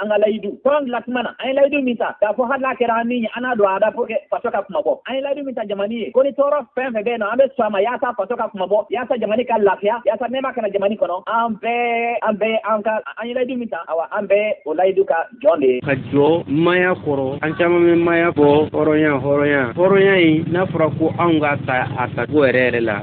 an ka layidu kɔrɔn dilan tuma na an ye layidu min ta k'a fɔ hali n'a kɛra an ni ye an n'a don a da pour que faso ka kunmabɔ an ye layidu min ta jamani ye ko ni tɔɔrɔ fɛn fɛn bɛ yen nɔ an bɛ sɔn a ma yaasa faso ka kunmabɔ yaasa jamani ka lafiya yaasa nɛɛma ka na jamani kɔnɔ an bɛɛ an bɛɛ an ka an ye layidu min ta awa an bɛɛ o layidu ka jɔn de ye ka jɔ maaya kɔrɔ an caman bɛ maaya bɔ hɔrɔnya hɔrɔnya hɔrɔnya in n'a fɔra ko anw k'a ta a tacogo yɛrɛ yɛrɛ la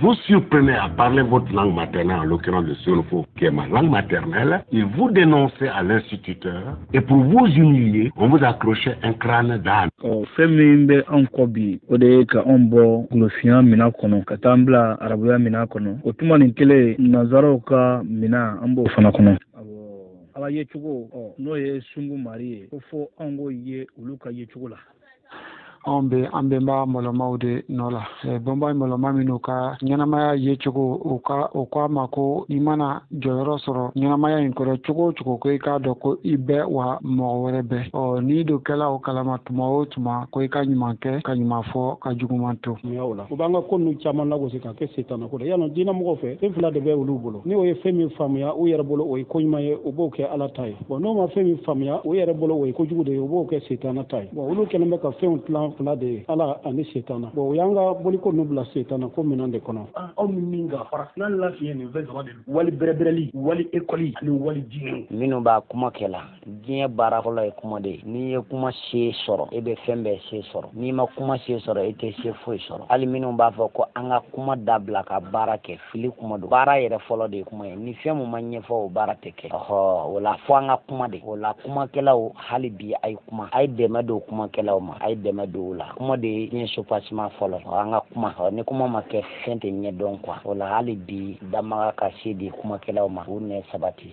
Vous surprenait à parler votre langue maternelle, en l'occurrence le Sénoufo, qui est ma langue maternelle, il vous dénonçait à l'instituteur, et pour vous humilier, on vous accroche un crâne d'âne. Oh, fɛn min bɛ anw kɔ bi o de ye ka anw bɔ golofinya mina kɔnɔ ka t'an bila arabuya mina kɔnɔ o tuma nin kelen nanzaraw ka mina an b'o fana kɔnɔ ala yecogo n'o ye sungu mari ye ko fo anw k'o ye olu ka yecogo la anw bɛ an bɛnba mɔlɔmaw de nɔ la bɛnba mɔlɔma minnu ka ɲɛnamaya ye cogo u ko an ma ko i mana jɔyɔrɔ sɔrɔ ɲɛnamaya in kɔrɔ cogo o cogo ko i k'a dɔn ko i bɛ wa mɔgɔ wɛrɛ bɛ ɔ n'i dun kɛla o kalama tuma o tuma ko i ka ɲuman kɛ ka ɲuman fɔ ka juguman to u b'an ka ko ninnu caman lagosi k'a kɛ setana ko dɛ y'a lɔn diinɛmɔgɔw fɛ fɛn fila de bɛ olu bolo ni u ye fɛn min faamuya u yɛrɛ bolo o ye ko ɲuman ye u b'o kɛ ala ta ye bɔn n'u ma fɛn min faamuya u yɛrɛ bolo o ye kojugu de ye u b'o kɛ setana ta ye bɔn olu kɛlen bɛ ka fɛnw tilan fila de ye ala ani setana bɔn u y'an ka boliko nu bila setana ko minɛn de kɔnɔ ah, aw ni min ka farafina lafiyɛn nin fɛn saba de don wali bɛrɛbɛrɛli wali ekɔli ani wali diinɛ minnu b'a kuma kɛ la diɲɛ baara fɔlɔ ye kuma de ye n'i ye kuma se sɔrɔ e bɛ fɛn bɛɛ se sɔrɔ n'i ma kuma se sɔrɔ e tɛ se foyi sɔrɔ hali minnu b'a fɔ ko an ka kuma dabila ka baara kɛ fili kuma don baara yɛrɛ fɔlɔ de ye kuma ye ni fɛn min ma ɲɛfɔ o baara tɛ kɛ ɔhɔ o la fo an ka kuma de o la kumakɛlaw hali bi a ye kuma a ye dɛmɛ don kumakɛlaw ma a ye dɛmɛ don u la kuma de ye diɲɛ soubassement fɔlɔ ɔ an ka kuma ɔ ni kuma ma kɛ fɛn tɛ ɲɛdɔn quoi o la hali bi danbaga ka se di kumakɛlaw ma u nɛ sabati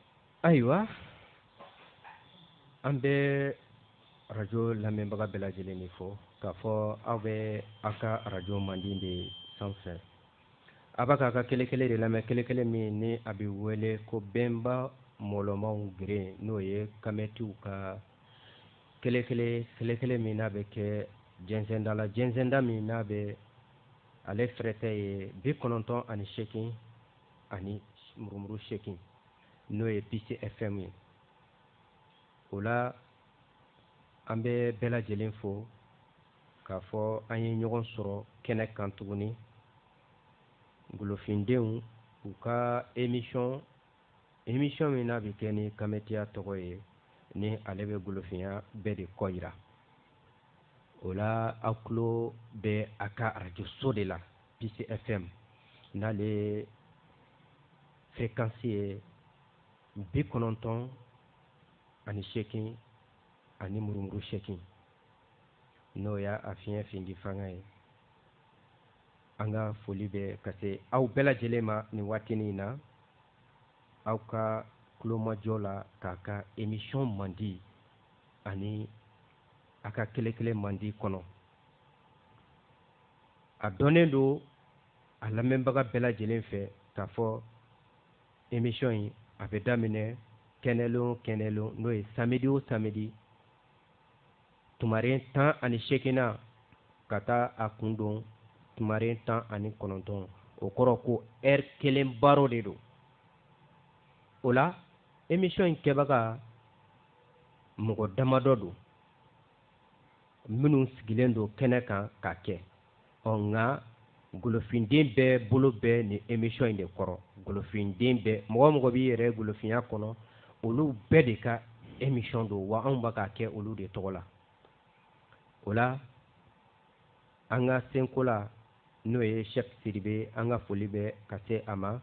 ayiwa an bɛ arajo lamɛnbaga bɛɛ lajɛlen de fo k'a fɔ aw bɛ aw ka arajo mandi de sanfɛ a bɛ k'a ka kelekele de lamɛn kelekele min ni a bɛ wele ko bɛnba mɔlɔmaw geren n'o ye kamɛtiw ka kelekele kelekele min n'a bɛ kɛ jɛnsɛnda la jɛnsɛnda min n'a bɛ ale fɛrɛtɛ ye bi kɔnɔntɔn ani sekin ani murumuru sekin n'o ye pcfm ye o la an bɛ bɛɛ lajɛlen fo k'a fɔ an ye ɲɔgɔn sɔrɔ kɛnɛ kan tuguni golofindenw u ka emisɔn emisɔn min n'a bɛ kɛ ni kametiya tɔgɔ ye ni ale bɛ golofinya bɛɛ de kɔ yira o la aw tulo bɛ a ka arajoso de la PCFM n'ale fréquence ye bi kɔnɔntɔn ani seegin ani murumuru seegin n'o y'a a fiɲɛ findi fanga ye an ka foli bɛ ka se aw bɛɛ lajɛlen ma nin waatinin in na aw ka kulomajɔ la k'a ka émission mandi ani a ka kele-kele mandi kɔnɔ a dɔnnen don a lamɛnbaga bɛɛ lajɛlen fɛ k'a fɔ emission in a bɛ daminɛ kɛnɛlon o kɛnɛlon n'o ye samedi o samedi tumaren tan ani seegin na ka taa a kun don tumaren tan ani kɔnɔntɔn o kɔrɔ ko ɛri kelen baro de don o la emission in kɛbaga mɔgɔ damadɔ don minnu sigilen don kɛnɛ kan k'a kɛ ɔ nka golofinden bɛɛ bolo bɛ nin emission in de kɔrɔ golofinden bɛɛ mɔgɔ o mɔgɔ b'i yɛrɛ golofinya kɔnɔ olu bɛɛ de ka emission don wa anw bɛ k'a kɛ olu de tɔgɔ la o la an ka senkola n'o ye shɛk siribe an ka foli bɛ ka se a ma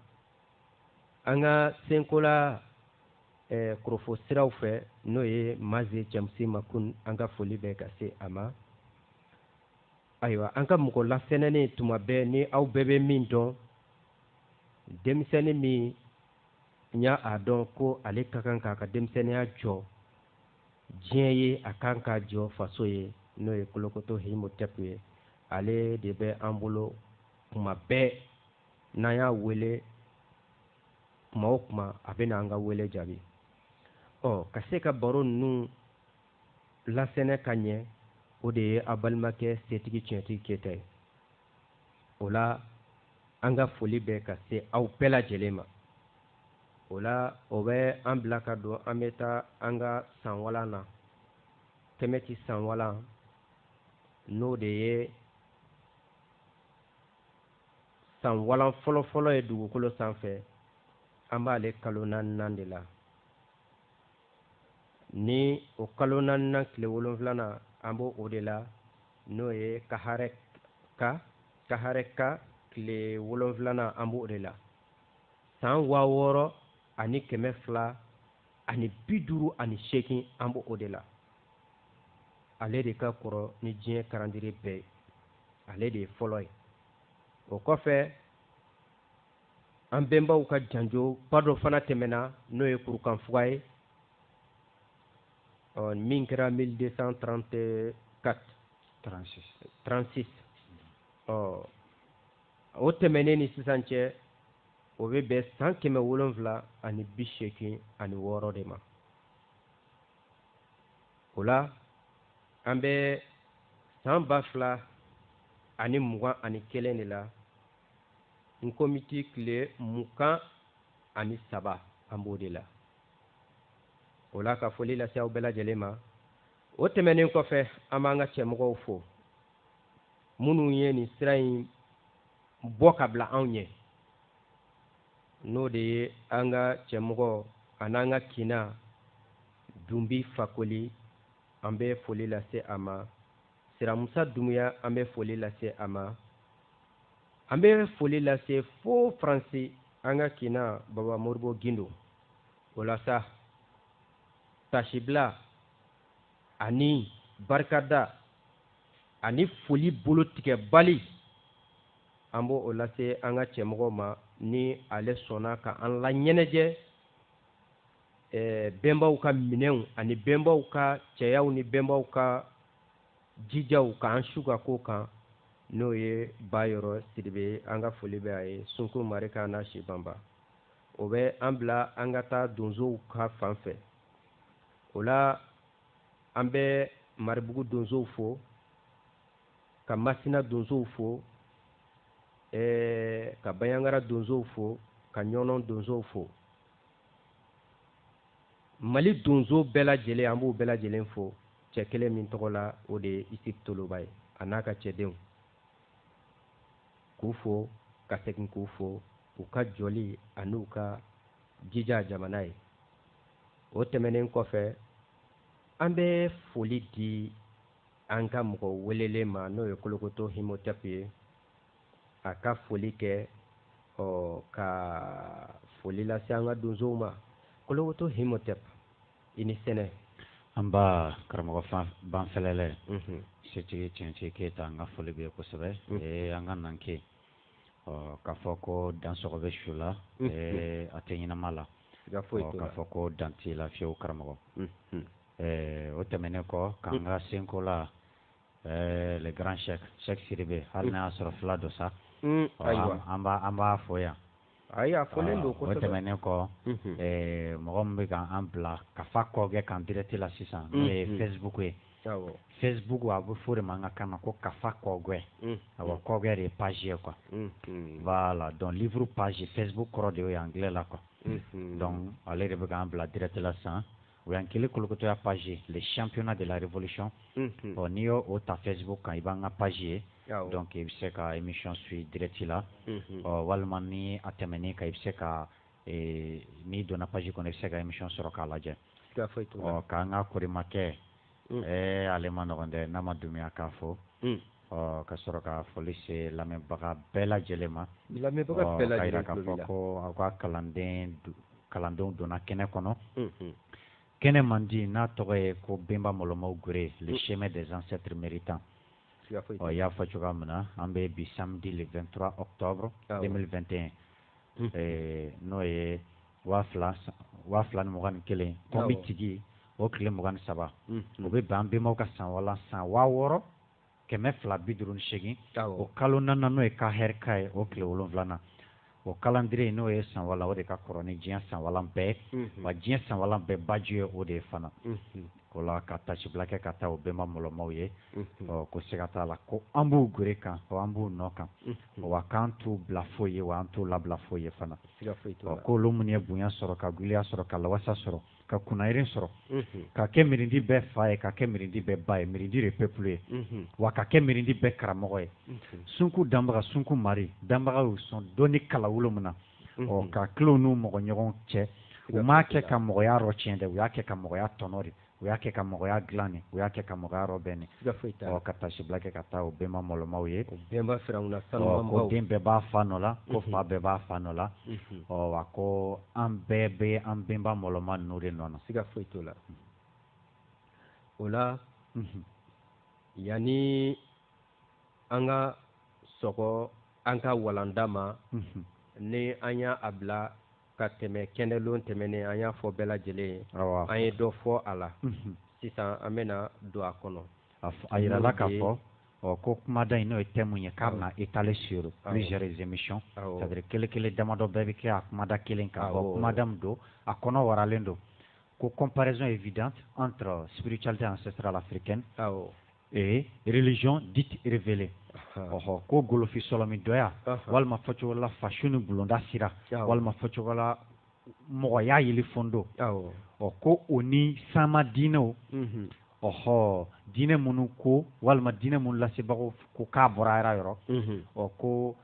an ka senkola eh, korofo siraw fɛ n'o ye maze jɛmsi makun an ka foli bɛ ka se a ma ayiwa an ka mɔgɔ lasɛnɛnen tuma bɛɛ ni aw bɛɛ bɛ min dɔn denmisɛnnin min y'a dɔn ko ale ka kan k'a ka denmisɛnninya jɔ diɲɛ ye a kan k'a jɔ faso ye n'o ye kolokoto himotɛpu ye ale de bɛ an bolo kuma bɛɛ n'an y'a wele kuma o kuma a bɛ n'an ka wele jaabi ɔ ka se ka baro ninnu lasɛnɛ ka ɲɛ o de ye a balimakɛ setigi tiɲɛtigi Keyita ye o la an ka foli bɛ ka se aw bɛɛ lajɛlen ma o la o bɛ an bila ka don an bɛ taa an ka sanwalan na kɛmɛti sanwalan n'o de ye sanwalan fɔlɔfɔlɔ ye dugukolo sanfɛ an b'ale kalo naaninan de la ni o kalo naaninan tile wolonfilanan an b'o o de la n'o ye kaharɛka kaharɛka tile wolonfilanan an b'o de la san waa wɔɔrɔ ani kɛmɛ fila ani bi duuru ani seegin an b'o o de la ale de ka kɔrɔ ni diɲɛ calendrier bɛɛ ye ale de ye fɔlɔ ye o kɔfɛ an bɛnbaw ka janjo ba dɔ fana tɛmɛna n'o ye kurukanfuga ye ɔ min kɛra 1234 36 36 ɔ o tɛmɛnen ni sisan cɛ o bɛ bɛn san kɛmɛ wolonwula ani bi seegin ani wɔɔrɔ de ma o la an bɛ san ba fila ani mugan ani kelen de la n komiti tile mugan ani saba an b'o de la o la ka foli lase aw bɛɛ lajɛlen ma o tɛmɛnen kɔfɛ an b'an ka cɛmɔgɔw fo minnu ye nin sira in bɔ ka bila anw ye n'o de ye an ka cɛmɔgɔ an'an ka kinna dunbi fakoli an bɛ foli lase a ma siramusa dumuya an bɛ foli lase a ma an bɛ foli lase fo faransi an ka kinna baba moribo gindo o la sa tasibila ani barikada ani foli bolo tigɛbali an b'o o lase an ka cɛmɔgɔ ma ni ale sɔnna ka an laɲɛnajɛ bɛnbaw ka minɛnw ani bɛnbaw ka cɛyaw ni bɛnbaw ka jijaw k'an su ka ko kan n'o ye ba yɔrɔ sidibe an ka foli bɛ a ye sunko mari ka na si banba o bɛ an bila an ka taa donsow ka fan fɛ o la an bɛ maribugu donsow fo ka masina donsow fo ɛɛ ka banjagara donsow fo ka ɲɔnɔn donsow fo mali donso bɛɛ lajɛlen an b'u bɛɛ lajɛlen fo cɛ kelen min tɔgɔ la o de ye isufu toloba ye a n'a ka cɛdenw k'u fo ka segin k'u fo u ka jɔli an'u ka jija jamana ye o tɛmɛnen kɔfɛ an bɛ foli di an ka mɔgɔ welelen ma n'o ye kolokoto himotɛpu ye a ka foli kɛ ɔ ka foli lase an ka donsow ma kolokoto himotɛpu i ni sɛnɛ nba karamɔgɔ fan banfɛlɛlɛ mhm. setigi tiɲɛtigi keyita an ka foli b'e ye kosɛbɛ mhm. ee an ka nan ke ɔ k'a fɔ ko dan sɔgɔ bɛ su la mhm. ee a tɛ ɲɛnama la k'a fɔ ko dan t'i la fiyewu karamɔgɔ Ɛɛ o tɛmɛnen kɔ k'an ka senkola le grand chef Cheick Sidibe hali n'a y'a sɔrɔ fula don sa, un, ayiwa, an b'a an b'a fo yan, ayi a folen don kosɛbɛ, o tɛmɛnen kɔ, unhun, ɛɛ mɔgɔ min bɛ ka an bila kafa kɔgɛ kan direct la sisan n'o ye Facebook ye, awɔ, Facebook a bɛ fɔ o de ma an ka kan na ko kafa kɔgɛ, unhun, awɔ kɔgɛ de ye page ye quoi, unhun, voilà donc livre page Facebook kɔrɔ de y'o ye anglais la quoi, unhun, donc ale de bɛ k'an bila direct la sisan O y'an kɛlen ye kolokotɔya page le championnat de la révolution unhun, ɔ n'i y'o o ta Facebook kan i b'an ka page ye, awɔ, donc i bɛ se ka emission suit direct la, unhun, ɔ walima ni a tɛmɛn'i kan i bɛ se ka ee n'i donna page kɔnɔ i bɛ se ka emission sɔrɔ k'a lajɛ, siga foyi t'o la, ɔ k'an ka korimakɛ Mm. Ɛɛ ale man nɔgɔn dɛ Nama Dumbiya k'a fo mm. ka sɔrɔ ka foli se lamɛnbaga bɛɛ lajɛlen ma ka fɔ ko aw ka kalanden kalandenw donna kɛnɛ kɔnɔ mm-hmm. kɛnɛ mandi n'a tɔgɔ ye ko bɛnba mɔlɔmaw gere le mm. chemin des ancêtres méritants ɔ y'a fɔ cogoya min na an bɛ bi samedi le 23 octobre 2021 n'o ye waa waa fila ni mugan ni kelen Konbitigi o tile mugan ni saba o bɛ bɛn an bɛnbaw ka sanwalan san waa wɔɔrɔ kɛmɛ fila bi duuru ni segin o kalo naaninan n'o ye Kahɛrika ye o tile wolon wolonwulanan o kalandiriye n'o ye sanwalan o de ka kɔrɔ ni diɲɛ sanwalan bɛɛ wa diɲɛ sanwalan bɛɛ baju ye o de ye fana k'o la ka tasibila kɛ ka taa o bɛnba mɔlɔmaw ye ko siga t'a la ko an b'u gere kan o an b'u nɔ kan wa k'an t'u bila foyi ye wa an t'u labila foyi ye fana k'olu minnu ye bonya sɔrɔ ka giliya sɔrɔ ka lawasa sɔrɔ ka kunnayɛlɛ sɔrɔ ka kɛ mirindi bɛɛ fa ye ka kɛ mirindi bɛɛ ba ye mirindi de peuple ye wa ka kɛ mirindi bɛɛ karamɔgɔ ye sunku danbaga sunku maari danbaga sɔn dɔnni kala wolo min na ɔ k'a til'u n'u mɔgɔ ɲɔgɔn cɛ u m'a kɛ ka mɔgɔya rɔtiɲɛ dɛ u y'a kɛ ka mɔgɔya tɔnɔ de u y'a kɛ ka mɔgɔya dilan de u y'a kɛ ka mɔgɔya rɔbɛn de ɔ ka tasibila kɛ ka taa o bɛnba mɔlɔmaw ye ko den bɛɛ b'a fa nɔ la ko fa bɛɛ b'a fa nɔ la ɔ wa ko an bɛɛ bɛ an bɛnba mɔlɔma ninnu de nɔ na siga foyi t'o la o la yanni an ka sɔgɔ an ka walanda ma ni an y'a a bila ka tɛmɛ kɛnɛlon tɛmɛnen an y'a fɔ bɛɛ lajɛlen ye an ye dɔ fɔ a la sisan an bɛna don a kɔnɔ a jirala k'a fɔ ɔ ko kumada in n'o ye thème ye k'a bɛna étaler sur plusieurs émissions c'est-à-dire kelen kelen damadɔ bɛɛ bɛ kɛ a kumada kelen kan bawo kumada min don a kɔnɔ waralen don ko comparaison évidente entre spiritualité ancestrale africaine ee religion dite révélée ɔhɔ ko golofi sɔlɔmi dɔya walima fɔcogo la fasu ni bulonda sira walima fɔcogo la mɔgɔya yeli fondo ɔ ko o ni sama diinɛw mhm. ɔhɔ diinɛ minnu ko walima diinɛ minnu lasebagaw ko k'a bɔra ala yɔrɔ mhm. ɔ ko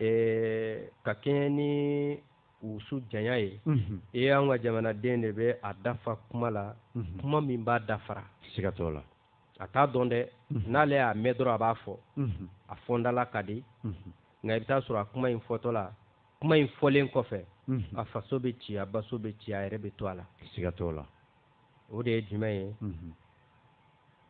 ɛɛ ka kɛɲɛ ni wusu janya ye e y'an ka jamanaden de bɛ a da fa kuma la kuma min b'a dafara sigatɔ la a t'a dɔn dɛ n'ale y'a mɛn dɔrɔn a b'a fɔ a fɔ da la ka di nka i bɛ taa sɔrɔ a kuma in fɔtɔ la kuma in fɔlen kɔfɛ a faso bɛ ci a baso bɛ ci a yɛrɛ bɛ to a la sigatɔ la o de ye jumɛn ye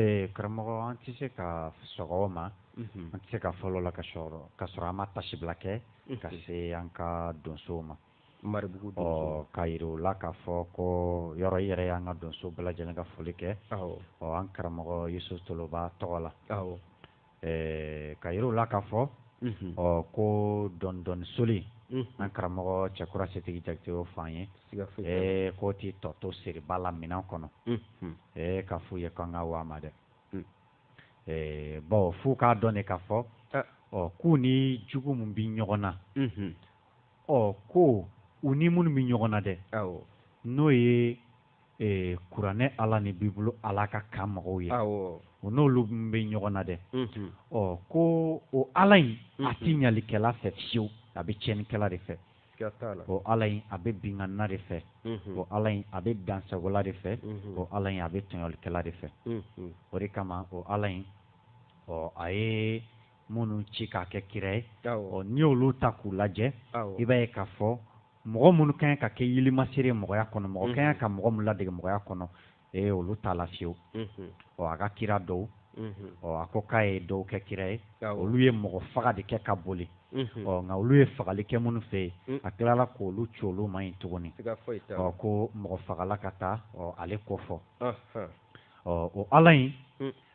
ee karamɔgɔ an tɛ se ka sɔgɔ ma an tɛ se ka fɔlɔ la ka sɔrɔ ka sɔrɔ an ma tasibila kɛ ka se an ka donsow ma maribugu ɔ ka jira u la k'a fɔ ko yɔrɔ i yɛrɛ y'an ka donsow bɛɛ lajɛlen ka foli kɛ ɔ an karamɔgɔ yusufu toloba tɔgɔ la ɛɛ ka yira u la k'a fɔ ɔ ko dɔndɔni soli an karamɔgɔ cɛkura setigi jakite o fɔ an ye ɛɛ k'o tɛ tɔ to seriba la minɛn kɔnɔ ɛɛ ka f'u ye k'an ka waama dɛ ɛɛ bawo f'u k'a dɔn de k'a fɔ ɔ k'u ni jugu min bɛ ɲɔgɔn na ɔ ko u ni minnu bɛ ɲɔgɔn na dɛ n'o ye ee kuranɛ ala ni bibulu ala ka kan mɔgɔw ye u n'olu bɛ ɲɔgɔn na dɛ ɔ ko o ala in a tɛ ɲalikɛla fɛ fiyewu a bɛ tiɲɛnikɛla de fɛ o ala in a bɛ binkanna de fɛ o ala in a bɛ dansagola de fɛ o ala in a bɛ tɔɲɔlikɛla de fɛ o de kama o ala in ɔ a ye minnu ci k'a kɛ kira ye ɔ n'i y'olu ta k'u lajɛ i b'a ye k'a fɔ mɔgɔ minnu kan ka kɛ yilimasere mɔgɔya kɔnɔ mɔgɔ kan ka mɔgɔ minnu ladege mɔgɔya kɔnɔ ee olu t'a la fiyewu ɔ a ka kira dɔw ɔ a ko k'a ye dɔw kɛ kira ye olu ye mɔgɔfaga de kɛ ka boli ɔ nka olu ye fagali kɛ minnu fɛ yen a tilala k'olu ci olu ma yen tuguni ɔ ko mɔgɔfagala ka taa ɔ ale ko fɔ ɔ o ala in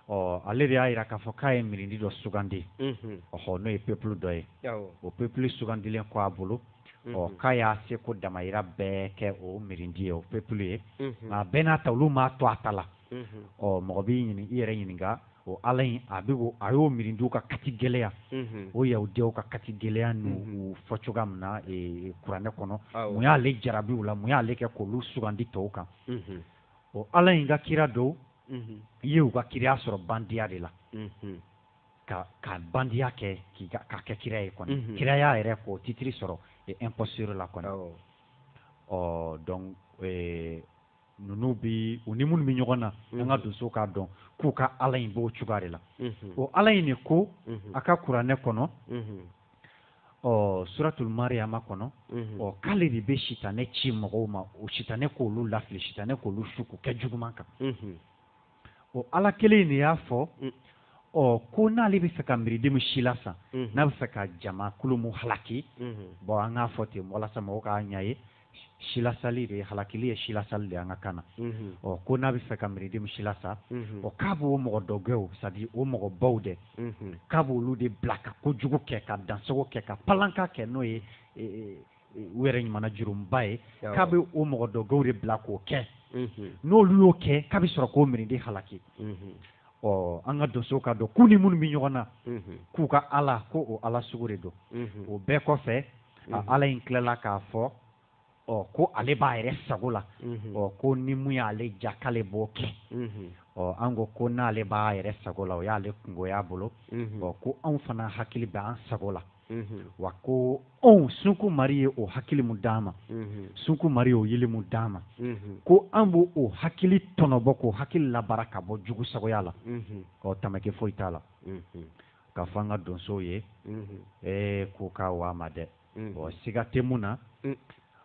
ɔ ale de y'a jira k'a fɔ k'a ye mirindi dɔ sugandi ɔhɔ n'o ye peuple dɔ ye o peuple sugandilen kɔ a bolo ɔ k'a y'a seko damayira bɛɛ kɛ o mirindi ye o peuple ye nka bɛɛ n'a ta olu m'a to a ta la ɔ mɔgɔ b'i yɛrɛ ɲininka o ala in a bɛ a y'o mirindiw ka kati gɛlɛya o yahudiyaw ka kati gɛlɛya n'u fɔ cogoya min na kuranɛ kɔnɔ mun y'ale jarabi u la mun y'ale kɛ k'olu sugandi tɔw kan o ala in ka kira dɔw ye u ka kiraya sɔrɔ bandiya de la ka ka bandiya kɛ ka kɛ kira ye kɔni kiraya yɛrɛ k'o titiri sɔrɔ imposture la kɔni ɔ donc ninnu bɛ u ni minnu bɛ ɲɔgɔn na an ka donsow k'a dɔn k'u ka ala in b'o cogoya de la o ala in de ko a ka kuranɛ kɔnɔ ɔ suratul mariyama kɔnɔ mhm. ɔ k'ale de bɛ sitanɛ ci mɔgɔw ma o sitanɛ k'olu lafili sitanɛ k'olu su k'u kɛ juguman kan mhm. ɔ ala kelen de y'a fɔ mm. ɔ ko n'ale bɛ fɛ ka mirindi mu silasa mhm. n'a bɛ fɛ ka jama kulu mu halaki bɔn an k'a fɔ ten walasa mɔgɔw k'a ɲɛ ye silasali de ye halakili ye silasali de an ka kan na ɔ ko n'a bɛ fɛ ka mirindi mu silasa ɔ k'a b'o mɔgɔ dɔgɛw c'est-à-dire o mɔgɔ baw dɛ k'a b' olu de bila ka ko jugu kɛ ka dansogo kɛ ka panlanka kɛ n'o ye e, e, e, u yɛrɛ ɲuman jurumba ye k'a bɛ o mɔgɔ dɔgɛw de bila k'o kɛ n'olu y'o kɛ k'a bɛ sɔrɔ k'o mirindi halaki ɔ an ka donsow k'a dɔn k'u ni minnu bɛ ɲɔgɔn na k'u ka ala ko o ala sugu de don o bɛɛ kɔfɛ mhm. ala in tilala k'a fɔ ɔ ko ale b'a yɛrɛ sago la mhm. ɔ ko ni mun y'ale diya k'ale b'o kɛ mhm. ɔ an ko ko n'ale b'a yɛrɛ sago la o y'ale kunko y'a bolo ɔ ko anw fana hakili bɛ an sago la wa ko anw sunku mari ye o hakili mun d'an ma sunku mari ye o yili mun d'an ma ko an b'o o hakili tɔnɔbɔ k'o hakili labaara ka bɔ jugu sagoya la ɔ tamaki foyi t'a la k'a fɔ an ka donsow ye ee ko k'a waa ma dɛ ɔ siga tɛ mun na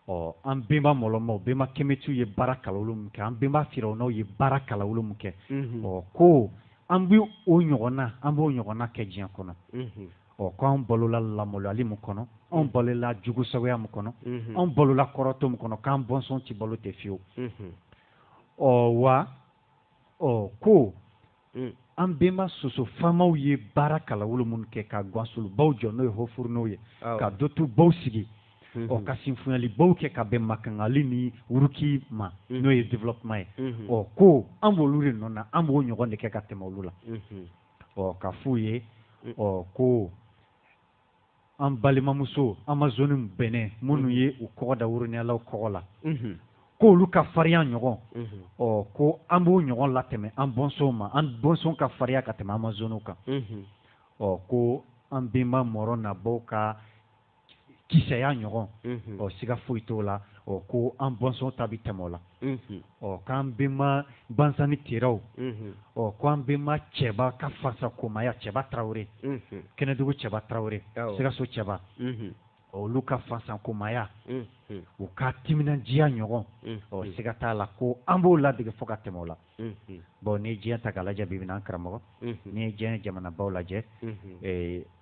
ɔ an benba mɔlɔnmaw benba kɛmɛtiw ye baara kalawolo min kɛ an benba firaunaw ye baara kalawolo min kɛ ɔ ko an bɛ o ɲɔgɔn na an b'o ɲɔgɔnna kɛ diɲɛ kɔnɔ ɔ ko anw balola lamaloyali min kɔnɔ anw balola jugu sagoya min kɔnɔ anw balola kɔrɔtɔ min kɔnɔ k'an bɔnsɔn tɛ balo ten fiyewu ɔ wa ɔ ko mm. an benba soso faamaw ye baara kalawolo minnu kɛ ka gwansolobaw jɔ n'o ye hofurunow ye ka dotubaw sigi mm-hmm. ɔ ka sinfunyalibaw kɛ ka bɛn makangali ni wuruki ma mm-hmm. n'o ye développement ye mm-hmm. ɔ ko an b'olu de nɔ na an b'o ɲɔgɔn de kɛ ka tɛmɛ olu la ɔ k'a f'u ye ɔ ko an balimamuso amazoni bɛnɛ minnu ye u kɔgɔ da woronyalaw kɔgɔ la k'olu ka farinya ɲɔgɔn ɔ ko an b'o ɲɔgɔn latɛmɛ an bɔnsɔnw ma an bɔnsɔn ka farinya ka tɛmɛ amazoniw kan ɔ ko an benba mɔrɔ nabaw ka kisɛya ɲɔgɔn ɔ siga foyi t'o la ɔ ko an bɔnsɔn ta bɛ tɛmɛ o la ɔ k'an bɛnma bansani teraw ɔ ko an bɛnma cɛba ka fasa komaya cɛba tarawele kɛnɛdugu cɛba tarawele sikaso cɛba olu ka fasa komaya u ka timinadiya ɲɔgɔn ɔ siga t'a la ko an b'o ladege fo ka tɛmɛ o la bon n'i ye diɲɛ ta k'a lajɛ bi bi in na an karamɔgɔ n'i ye diɲɛ jamanabaw lajɛ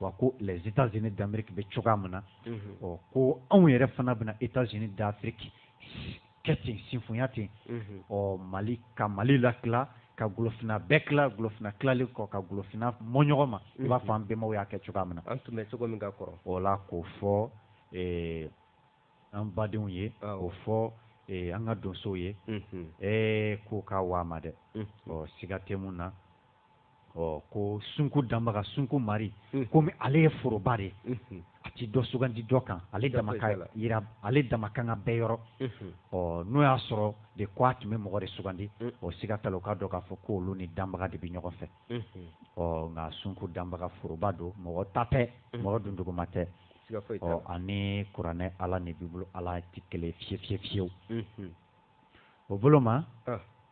wa ko les états-unis d'amérique bɛ cogoya min na ɔ ko anw yɛrɛ fana bɛna états-unis d'afrique kɛ ten sinfoya ten ɔ mali ka mali latila ka golofinna bɛɛ tila golofinna tilalen kɔ ka golofinna mɔ ɲɔgɔn ma i b'a fɔ an bɛnbaw y'a kɛ cogoya min na an tun bɛ cogo min ka kɔrɔ o la k'o fɔ an badenw ye o fɔ an ka donsow ye ɛɛ ko ka waa ma dɛ ɔ siga tɛ min na ɔ ko sunko danbaga sunko mari komi ale ye foroba de a tɛ dɔ sugandi dɔ kan ale dama ale dama ka kan bɛɛ yɔrɔ ɔ n'o y'a sɔrɔ de k ko a tun bɛ mɔgɔ de sugandi o siga t'a la u k'a dɔn k'a fɔ ko olu ni danbaga de bɛ ɲɔgɔn fɛ ɔ nka sunko danbaga foroba don mɔgɔ ta tɛ mɔgɔ dunduguma tɛ ɔ ani kuranɛ ala ni bibulu ala tɛ kelen fiye fiye fiyew o bolo ma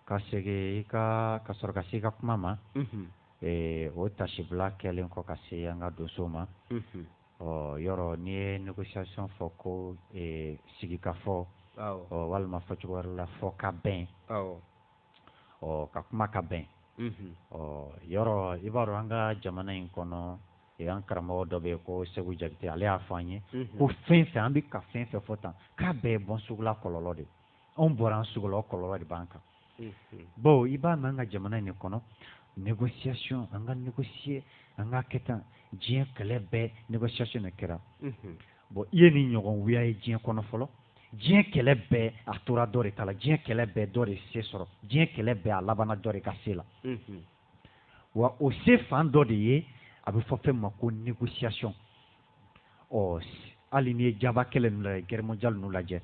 ka segin i ka ka sɔrɔ ka se i ka kuma ma o taasibila kɛlen kɔ ka se an ka donso ma ɔ yɔrɔ n'i ye négociation fɔ ko sigikafɔ ɔ walima fɔcogo wɛrɛ la fɔ ka bɛn ɔ ka kuma ka bɛn ɔ yɔrɔ i b'a dɔn an ka jamana in kɔnɔ an karamɔgɔ dɔ bɛ yen ko seku jakite ale y'a fɔ an ye ko fɛn fɛn an bɛ ka fɛn fɛn fɔ tan k'a bɛɛ ye bɔnsugula kɔlɔlɔ de anw bɔra an sugu la o kɔlɔlɔ de b'an kan bawo i b'a mɛn an ka jamana in de kɔnɔ négociation an ka négocier an k'a kɛ tan diɲɛ kɛlɛ bɛɛ négociation de kɛra bɔn i ye nin ɲɔgɔn wuya ye diɲɛ kɔnɔ fɔlɔ diɲɛ kɛlɛ bɛɛ a tora dɔ de ta la diɲɛ kɛlɛ bɛɛ dɔ de se sɔrɔ diɲɛ kɛlɛ bɛɛ a labanna dɔ de ka se la wa o se fan dɔ de ye a bɛ fɔ fɛn ma ko négociation ɔ hali n'i ye jaba kɛlɛ ninnu lajɛ guerre mondiale ninnu lajɛ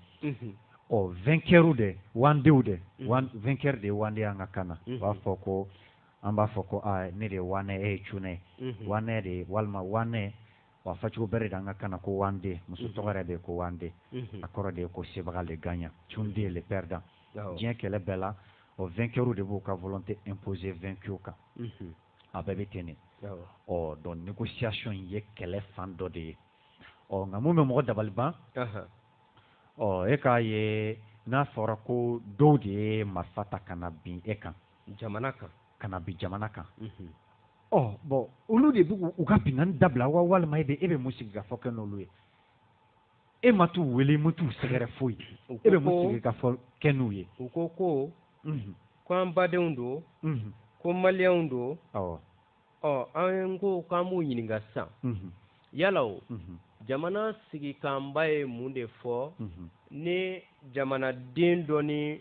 ɔ vainqueur de wandew de vainqueur de ye wande an ka kan na u b'a fɔ ko an b'a fɔ ko ne de ye wanɛ e ye cunɛ ye wanɛ de ye walima wanɛ a fɔcogo bɛrɛ de an ka kan na ko wande muso tɔgɔ yɛrɛ de ko wande a kɔrɔ de ye ko sebaga le gagnant cunde le perdant diɲɛ kɛlɛ bɛɛ la o vainqueurw de b'u ka volonté imposer vaincu kan a bɛɛ bɛ ten ɔ donc négociation ye kɛlɛ fan dɔ de ye ɔ nka mun bɛ mɔgɔ dabali ban ɔ e k'a ye n'a fɔra ko dɔw de ye marifa ta ka na bin e kan jamana kan ka na bin jamana kan ɔ bɔn olu de bɛ u ka binkanni dabila wa walima e bɛ e bɛ mun sigikafɔ kɛ n'olu ye e ma t'u wele e ma t'u sɛgɛrɛ foyi e bɛ mun sigikafɔ kɛ n'u ye u ko ko ko an badenw don ko maliyɛnw don ɔ an ko k'an b'u ɲininka sisan yala o jamana sigikanba ye mun de fɔ ni jamanaden dɔ ni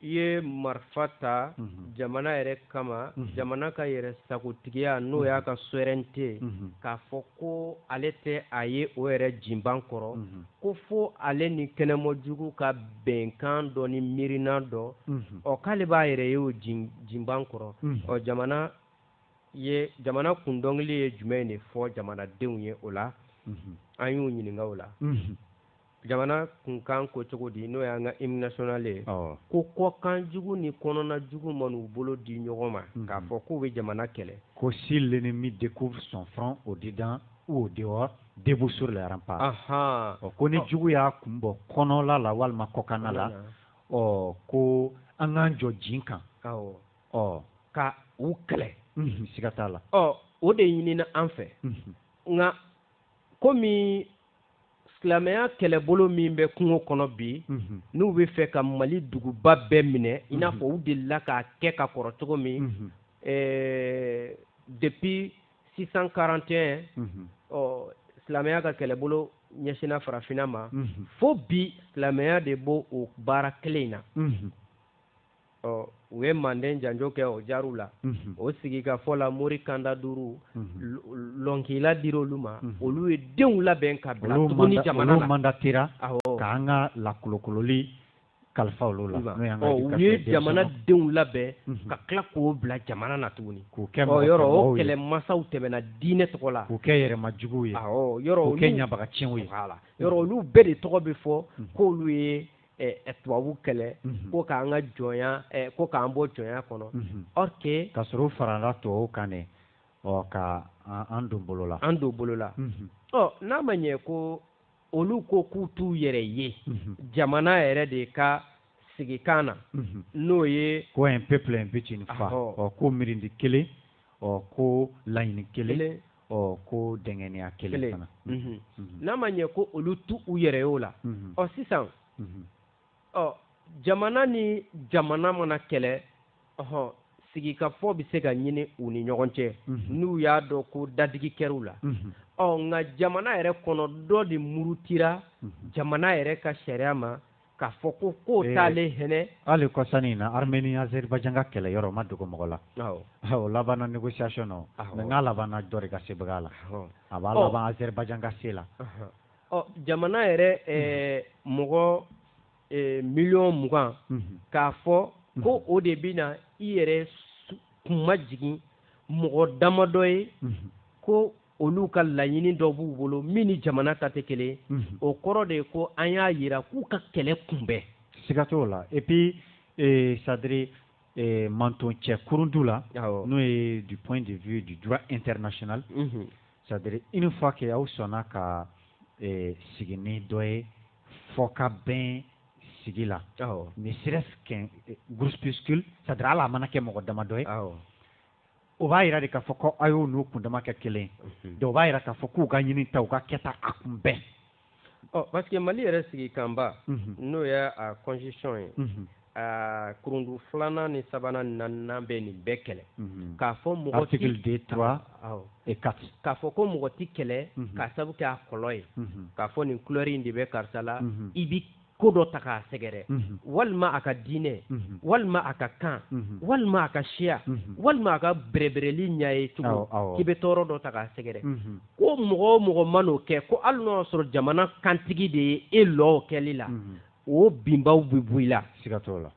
i ye marifa ta mhm. jamana yɛrɛ kama mhm. jamana ka yɛrɛ sagotigiya n'o y'a ka souveraineté mhm. k'a fɔ ko ale tɛ a ye o yɛrɛ jinban kɔrɔ ko fo ale ni kɛnɛma jugu ka bɛnkan dɔ ni miirina dɔ ɔ k'ale b'a yɛrɛ ye o jinban kɔrɔ ɔ jamana ye jamana kun dɔnkili ye jumɛn de fɔ jamanadenw ye o la an y'u ɲininka o la jamana kunkan ko cogo di n'o y'an ka hymne national ye ko kɔkan jugu ni kɔnɔna jugu man'u bolo di ɲɔgɔn ma mhm. k'a fɔ k'u bɛ jamana kɛlɛ ko si l'ennemi découvre son front au dedans ou au dehors debout sur les remparts ko ni jugu y'a kun bɔ kɔnɔla la walima kɔkanna la ɔ ko an k'an jɔ jin kan ɔ ka u kɛlɛ mhm. siga t'a la ɔ o de ɲinina an fɛ mhm. nka komi silamɛya kɛlɛbolo min bɛ kungo kɔnɔ bi mhm. n'u b'a fɛ ka mali duguba bɛɛ minɛ i n'a mhm. fɔ u delila k'a kɛ ka kɔrɔ cogo min mhm. eh, depuis 641 ɔ silamɛya ka kɛlɛbolo ɲɛsinna farafinna ma fo bi silamɛya de b'o o baara kelen in na ɔ u ye manden janjo kɛ o jaru la mhm. o sigikafɔ la mori kanda duuru mhm. lɔnkila dira olu ma mhm. olu ye denw labɛn ka bila tuguni jamana la manda tera k'an ka lakolokololi kalifa olu la u ye jamana denw labɛn ka tila k'o bila jamana na tuguni k'o kɛ yɔrɔ o kɛlɛ masaw tɛmɛna diinɛ tɔgɔ la k'o kɛ yɛrɛma juguw ye yɔrɔ k'o kɛ ɲabagacɛnw ye yɔrɔ olu bɛɛ de tɔgɔ bɛ fɔ k'olu ye tubabu kɛlɛ mhm. ko k'an ka jɔnya ko k'an bɔ jɔnya kɔnɔ mhm. or que ka sɔrɔ u farala tubabu kan de ɔ ka an don bolo la an don bolo la mhm. ɔ n'a ma ɲɛ ko olu ko k'u t'u yɛrɛ ye jamana yɛrɛ de ka sigikan na n'o ye ko un peuple un but une foi ɔ ko mirindi kelen ɔ ko laɲini kelen ɔ ko dɛngɛnɛya kelen fana mhm. Mhm. n'a ma ɲɛ ko olu t'u yɛrɛ y'o la mhm. ɔ sisan ɔ jamana ni jamana mana kɛlɛ ɔhɔn sigikafɔ bɛ se ka ɲini u ni ɲɔgɔn cɛ n'u y'a dɔn ko dadigi kɛr'u la ɔ nka jamana yɛrɛ kɔnɔ dɔ de murutira jamana yɛrɛ ka sariya ma k'a fɔ ko k'o ee, t'ale hinɛ hali kɔsa in na armeni azeribajan ka kɛlɛ yɔrɔ ma dogo mɔgɔ la o labanna négociation na o mais n'a labanna dɔ de ka sebaga la a b'a laban azeribajan ka se la ɔ jamana yɛrɛ eh, mɔgɔ eh, miliyɔn mugan mhm. k'a fɔ mhm. ko o de bɛna i yɛrɛ kun majigin mɔgɔ damadɔ ye mhm. ko olu ka laɲini dɔ b'u bolo min ni jamana ta tɛ kelen mhm. o kɔrɔ de ye ko an y'a yira k'u ka kɛlɛ kun bɛn siga t'o la et puis eh, c'est-à-dire eh, manton cɛ kurundu la n'o ye du point de vue du droit international mm -hmm. c'est-à-dire une fois que aw sɔnna ka eh, sigi ni dɔ ye fɔkabɛn sigi la ne serait-ce qu'un eh, groupuscule c'est-à-dire hali a mana kɛ mɔgɔ damadɔ ye o b'a jira de k'a fɔ ko a y'o n'u kundama kɛ kelen mhm. dɔw b'a jira k'a fɔ k'u ka ɲinita u ka kɛta a kun bɛn ɔ parce que mali yɛrɛ sigikanba mhm. n'o ye a constitution ye mhm. a kurundu filanan ni sabanan ni naaninan bɛ nin bɛɛ kɛlɛ k'a fɔ mɔgɔ article deux trois et quatre k'a fɔ ko mɔgɔ ti kɛlɛ k'a sabu kɛ a kɔlɔ ye k'a fɔ nin couleur in de bɛ karisa la i bi ko dɔ ta k'a sɛgɛrɛ mhm. walima a ka diinɛ mhm. walima a ka kan mhm. walima a ka siya walima a ka bɛrɛbɛrɛli ɲa ye cogo k'i bɛ tɔɔrɔ dɔ ta k'a sɛgɛrɛ ko mɔgɔ o mɔgɔ man'o kɛ ko hali n'o y'a sɔrɔ jamana kantigi de ye e lɔw kɛli la o binbaw bɛ bɔ i la siga t'o la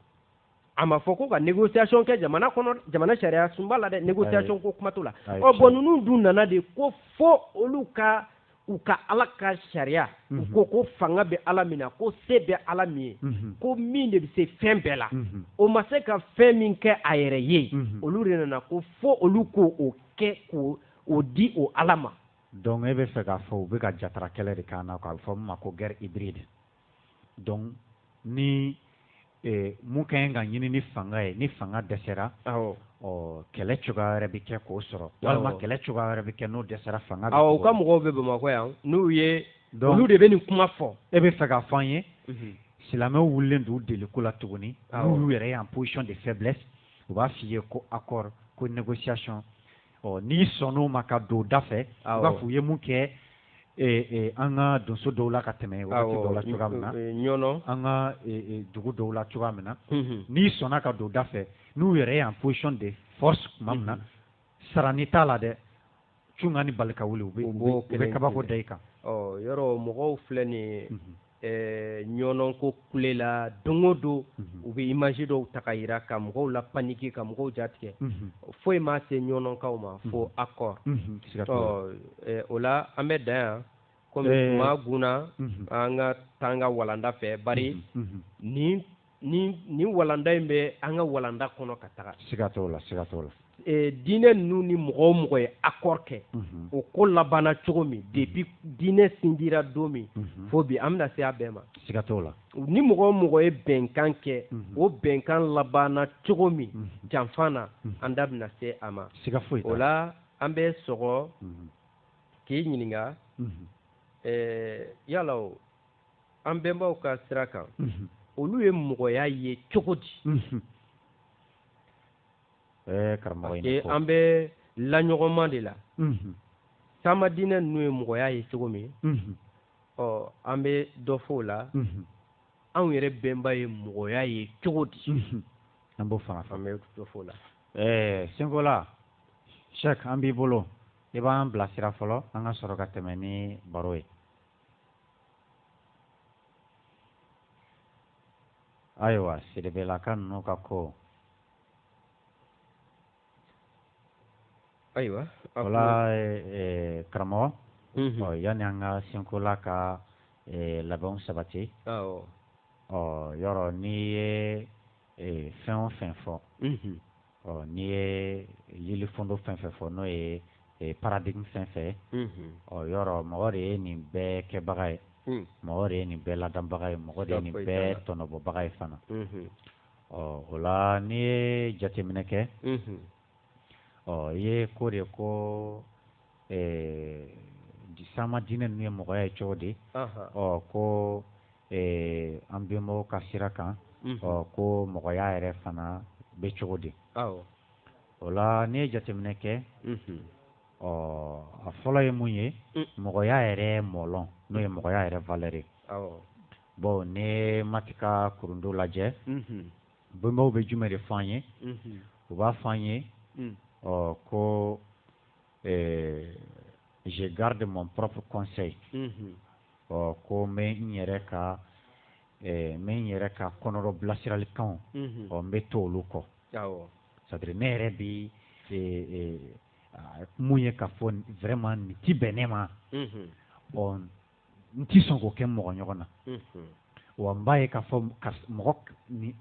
a ma fɔ ko ka négociation kɛ jamana kɔnɔ jamana sariya sunba la dɛ négociation ko kuma t'o la ɔ bɔn ninnu dun nana de ko fo olu ka u ka ala ka sariya u mhm. ko ko fanga bɛ ala min na ko se bɛ ala min ye mhm. ko min de bɛ se fɛn bɛɛ la mhm. o ma se ka fɛn min kɛ a yɛrɛ ye olu de nana ko fo olu k'o kɛ k'o di o ala ma donc e bɛ fɛ k'a fɔ u bɛ ka jatara kɛlɛ de k'an na k'a fɔ min ma ko guerre hybride donc ni eh, mun ka ɲi ka ɲini ni fanga ye ni fanga dɛsɛra awɔ ɔ kɛlɛ cogoya wɛrɛ bɛ kɛ k'o sɔrɔ walima kɛlɛ cogoya wɛrɛ bɛ kɛ n'o dɛsɛra fanga bɛ awɔ u ka mɔgɔw bɛ bamakɔ yan n'u ye donc olu de bɛ nin kuma fɔ e bɛ fɛ k'a fɔ an ye silamɛw wulilen don u deliko la tuguni Awɔ. n'u y'u yɛrɛ ye en position de faiblesse u b'a f'i ye ko accord ko négociation ɔ n'i sɔnn'o ma ka don u da fɛ i b'a fɔ u ye mun kɛ an ka donso dɔw la ka tɛmɛ waati dɔw la cogoya min na ɲɔnɔ an ka dugu dɔw la cogoya min na n'i sɔnna ka don u da fɛ n'u yɛrɛ ye en position de force tuma min na sarani t'a la dɛ cunkan ni balikawuli u bɛ kabako da i kan yɔrɔ mɔgɔw filɛ nin ye Eh, ɲɔnɔ ko kule la don o don mhm. u bɛ imaji dɔw ta ka jira ka mɔgɔw lapaniki ka mɔgɔw jatigɛ mhm. foyi ma se ɲɔnɔkaw ma mhm. fo accord eh, o la an bɛ dan yan kɔmi eh. maa gna an ka taga walanda fɛ bari ni ni ni walanda in bɛ an ka walanda kɔnɔ ka taga siga t'o la siga t'o la e, diinɛ ninnu ni mɔgɔ o mɔgɔ ye accord kɛ mhm. o ko labanna cogo min mhm. depuis diinɛ sindira don min mhm. fo bi an bɛna se a bɛɛ ma siga t'o la ni mɔgɔ o mɔgɔ ye bɛnkan kɛ o bɛnkan labanna cogo min janfa na an da bɛna se a ma siga foyi o la an bɛ sɔrɔ k'i ɲininka e, yala o an bɛnbaw ka sira kan olu ye mɔgɔya ye cogo di an bɛ laɲɔgɔnma de la sama diinɛ ninnu ye mɔgɔya ye cogo min ɔ an bɛ dɔ fɔ o la anw yɛrɛ bɛnba ye mɔgɔya ye cogo di an b'o fanga fan bɛ dɔ fɔ o la ɛɛ senkola sɛ an b'i bolo i b'an bilasira fɔlɔ an ka sɔrɔ ka tɛmɛ ni baro ye ayiwa siribelaka ninnu ka ko ayiwa o la karamɔgɔ ɔ yanni an ka senkola ka labɛnw sabati ɔ yɔrɔ n'i ye fɛn o fɛn fɔ ɔ n'i ye lili fondo fɛn fɛn fɔ n'o ye e, paradigme fɛn fɛn ye mhm. ɔ yɔrɔ mɔgɔ de ye nin bɛɛ kɛbaga ye hmm. mɔgɔ de ye nin bɛɛ ladanbaga ye mɔgɔ de ye nin bɛɛ tɔnɔbɔbaga ye fana mhm. ɔ o la n'i ye jateminɛ kɛ mhm. ɔ i ye ko de ko ɛɛ sama diinɛ ninnu ye mɔgɔya ye cogo di ɔ ko an bɛnbaw ka sira kan ɔ ko mɔgɔya yɛrɛ fana bɛ cogo di o la n'i ye jateminɛ kɛ ɔ a fɔlɔ ye mun ye mɔgɔya yɛrɛ mɔlɔn n'o ye mɔgɔya yɛrɛ valeur bon ne mati ka kurundo lajɛ bɛnbaw bɛ jumɛn de fɔ ye u b'a fɔ ye ɔ ko eh, je garde mon propre conseil mhm. ɔ ko n bɛ n yɛrɛ ka eh, n bɛ n yɛrɛ ka kɔnɔdɔ bilasiralikanw mhm. ɔ n bɛ to olu kɔ c'est à dire ne yɛrɛ bi mun ye ka fɔ vraiment nin ti bɛn ne ma ɔ n tɛ sɔn k'o kɛ mɔgɔ ɲɔgɔn na wa n b'a ye k'a fɔ mɔgɔ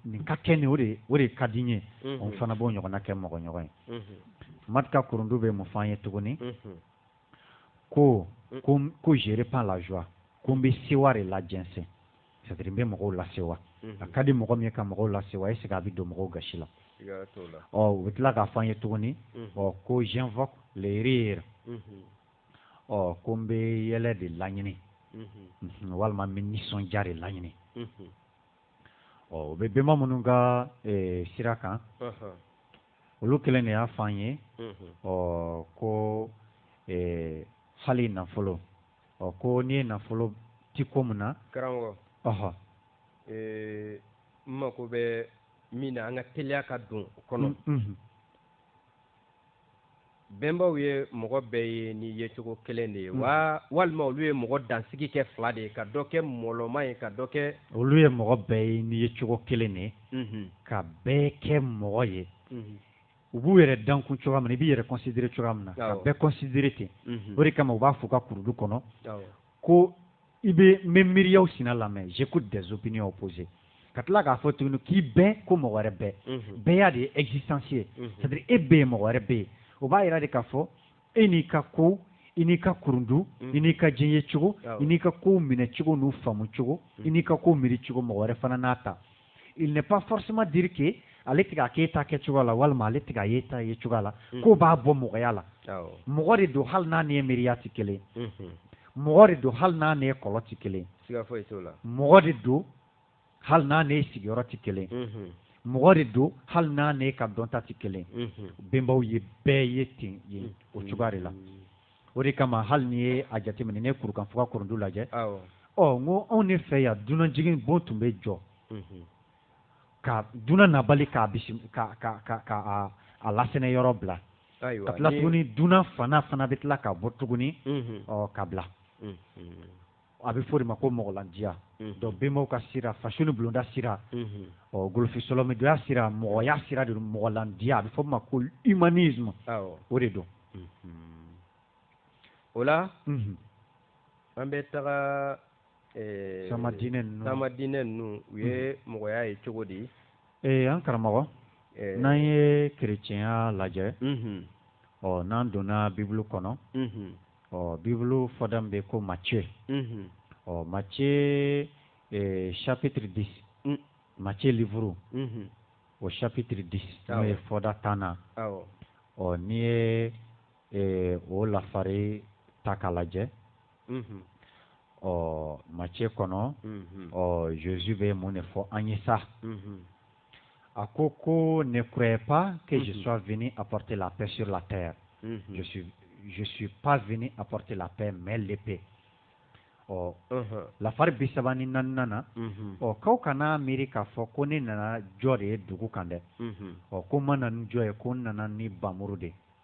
nin ka kɛ nin o de o de ka di n ye n fana b'o ɲɔgɔnna kɛ mɔgɔ ɲɔgɔn ye maati ka kurundu bɛ mun f'an ye tuguni ko ko ko je répands la joie ko n bɛ sewa de lajɛnsɛn c'est à dire n bɛ mɔgɔw lasewa a ka di mɔgɔ min ye ka mɔgɔw lasewa est ce que a bɛ don mɔgɔw gasi la ɔ u bɛ tila k'a fɔ an ye tuguni ɔ ko j'invoque le rire ɔ ko n bɛ yɛlɛ de laɲini walima n bɛ nisɔndiya de laɲini ɔ o bɛ bɛnba minnu ka sira kan olu kelen de y'a fɔ an ye ɔ ko hali nafolo ɔ ko n'i ye nafolo ti ko min na karamɔgɔ ɔhɔ n mako bɛ min na an ka teliya ka don o kɔnɔ bɛnbaw ye mɔgɔ bɛɛ ye ni yecogo kelen de ye hmm. wa walima olu ye mɔgɔ dansigi kɛ fila de ye ka dɔ kɛ mɔlɔma ye ka dɔ kɛ olu ye mɔgɔ bɛɛ ye ni yecogo kelen de ye hmm. ka bɛɛ kɛ mɔgɔ ye hmm. u b'u yɛrɛ dankun cogoya min na i b'i yɛrɛ kɔnsidire cogoya min na ka bɛɛ kɔnsidire ten o de kama u b'a fɔ u ka kurundu kɔnɔ ko i bɛ n bɛ miiriyaw sina lamɛn j'écoute des opinions opposées ka tila k'a fɔ tuguni k'i bɛ ko mɔgɔ wɛrɛ bɛ bɛya de ye existence ye c'est à dire e bɛ yen mɔgɔ wɛrɛ bɛ yen o b'a jira de k'a fɔ e n'i ka ko i n'i ka kurundu i n'i ka diɲɛ ye cogo i n'i ka kow minɛ cogo n'u faamu cogo i n'i ka kow miiri cogo mɔgɔ wɛrɛ fana n'a ta il n'est pas forcément dire que ale tɛ k'a kɛ e ta kɛ cogoya la walima ale tɛ k'a ye e ta ye cogoya la mm. k'o b'a bɔ mɔgɔya la mɔgɔ de don hali n'a n'e miiriya tɛ kelen mm-hmm. mɔgɔ de don hali n'a n'e kɔlɔ tɛ kelen mɔgɔ de don hali n'a n'e sigiyɔrɔ tɛ kelen mm-hmm. mɔgɔ de don hali n'a n'e ka dɔnta tɛ kelen mm-hmm. bɛnbaw ye bɛɛ ye ten ye o cogoya de la o de kama hali n'i ye a jateminɛ ne kurukan fuga kurundu lajɛ ɔ n ko anw de fɛ yan dunan jigin bon tun bɛ jɔ mhm. ka dunan nabali k'a ka a lasɛnɛ yɔrɔ bila ka tila tuguni dunan fana fana bɛ tila ka bɔ tuguni mhm. ɔ ka bila mhm. a bɛ fɔ o de ma ko mɔgɔlandiya don bɛnbaw ka sira fasosonin bulonda sira ɔ golofisɔlɔmidoya sira mɔgɔya sira de mɔgɔlandiya a bɛ fɔ ma ko humanisme o de don o la an bɛ taga sanma diinɛ sanma diinɛ ninnu u ye mɔgɔya ye cogo di ee an karamɔgɔ n'an ye kerecɛnya lajɛ ɔ n'an donna bibulu kɔnɔ ɔ bibulu fɔda min bɛ ko Matthieu unhun ɔ Matthieu eh, chapitre 10 un Matthieu livre unhun o chapitre 10 Awɔ. n'o ye fɔda tannan awɔ ɔ n'i ye eh, o lafari ta k'a lajɛ unhun ɔ Matthieu kɔnɔ unhun ɔ Jésus bɛ mun de fɔ an ye sa unhun A ko ko ne croyez pas que je sois venu apporter la paix sur la terre je suis pas venu apporter la paix mais l'épée ɔ lafari bi saba ni naaninan ɔ k'aw kan'a miiri k'a fɔ ko ne nana jɔ de ye dugu kan dɛ ɔ ko n ma na ni jɔ ye ko n nana ni npanmuru de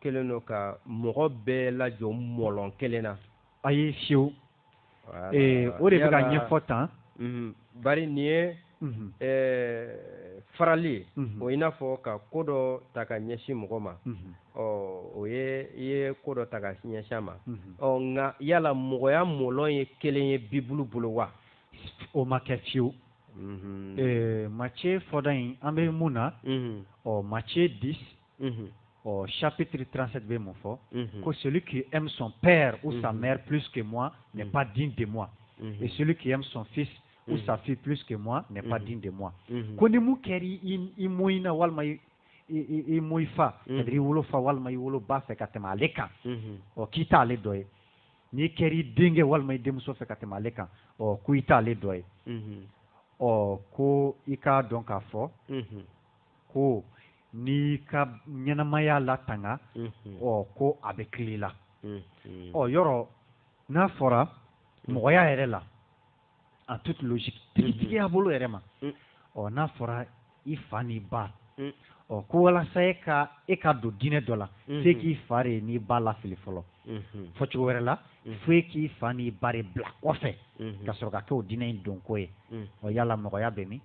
kelen don ka mɔgɔ bɛɛ lajɔ mɔlɔn kelen na ayi fiyewu o de bɛ ka ɲɛfɔ tan mhm. bari nin ye mhm. farali ye mhm. o i n'a fɔ ka ko dɔ ta ka ɲɛsin mɔgɔ ma ɔ o ye i ye ko dɔ ta ka ɲɛsin ma ɔ nka yala mɔgɔya mɔlɔn ye kelen ye bibulu bolo wa o ma kɛ fiyewu Matthieu fɔda in an bɛ mun na ɔ Matthieu 10 ɔ chapitre 37 bɛ mun fɔ ko celui qui aime son père ou sa mère plus que moi n'est pas digne de moi et celui qui aime son fils ou sa fille plus que moi n'est pas digne de moi ko ni mun kɛra i mɔyi na walima i mɔyi fa i wolo fa walima i wolo ba fɛ ka tɛmɛ ale kan ɔ k'i t'ale dɔ ye n'i kɛra i denkɛ walima i denmuso fɛ ka tɛmɛ ale kan ɔ ko i t'ale dɔ ye ɔ ko i k'a dɔn k'a fɔ ko n'i ka ɲɛnamaya latanga ɔ ko a bɛ fili i la ɔ yɔrɔ n'a fɔra mɔgɔya yɛrɛ la en toute logique tigiya bolo yɛrɛ ma ɔ n'a fɔra i fa n'i ba ɔ ko walasa e ka e ka don diinɛ dɔ la fo k'i fa de n'i ba lafili fɔlɔ fɔ cogo wɛrɛ la fo e k'i fa n'i ba de bila kɔfɛ ka sɔrɔ ka kɛ o diinɛ in donko ye ɔ yala mɔgɔya bɛ min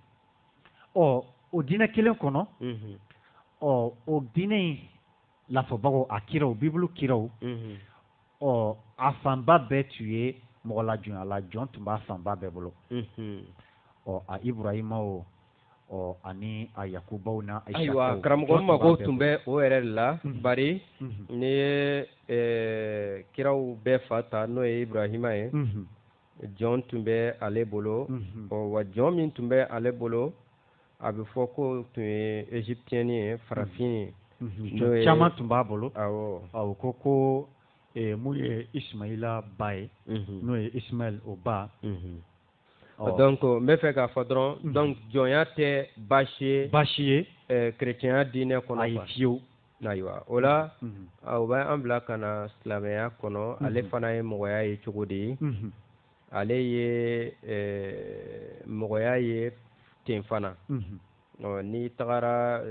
ɔ o diinɛ kelen kɔnɔ ɔ o diinɛ in lafɔbagaw a kiraw bibulu kiraw ɔ a fanba bɛɛ tun ye mɔgɔ lajɔnya la jɔn tun b'a fanba bɛɛ bolo ɔ a iburahima o ɔ ani a yakubaw na ayiwa karamɔgɔ mago tun bɛ o yɛrɛ de la bari n'i ye kiraw bɛɛ fa ta n'o ye iburahima ye jɔn tun bɛ ale bolo mhm. ɔ wa jɔn min tun bɛ ale bolo a bɛ fɔ ko tun ye égyptienne ye farafin ye mhm. caman tun b'a bolo awɔ ko ko eh, mun ye ismaila ba ye mhm. n'o ye ismail o ba donc n b'a fɛ k'a fɔ dɔrɔn donc jɔnya tɛ baasi ye baasi ye eh, chrétienya diinɛ kɔnɔ ayi fiyewu ayiwa o la o bɛ an bila ka na silamɛya kɔnɔ ale fana ye mɔgɔya ye cogo de ye ale ye mɔgɔya ye ten fana n'i tagara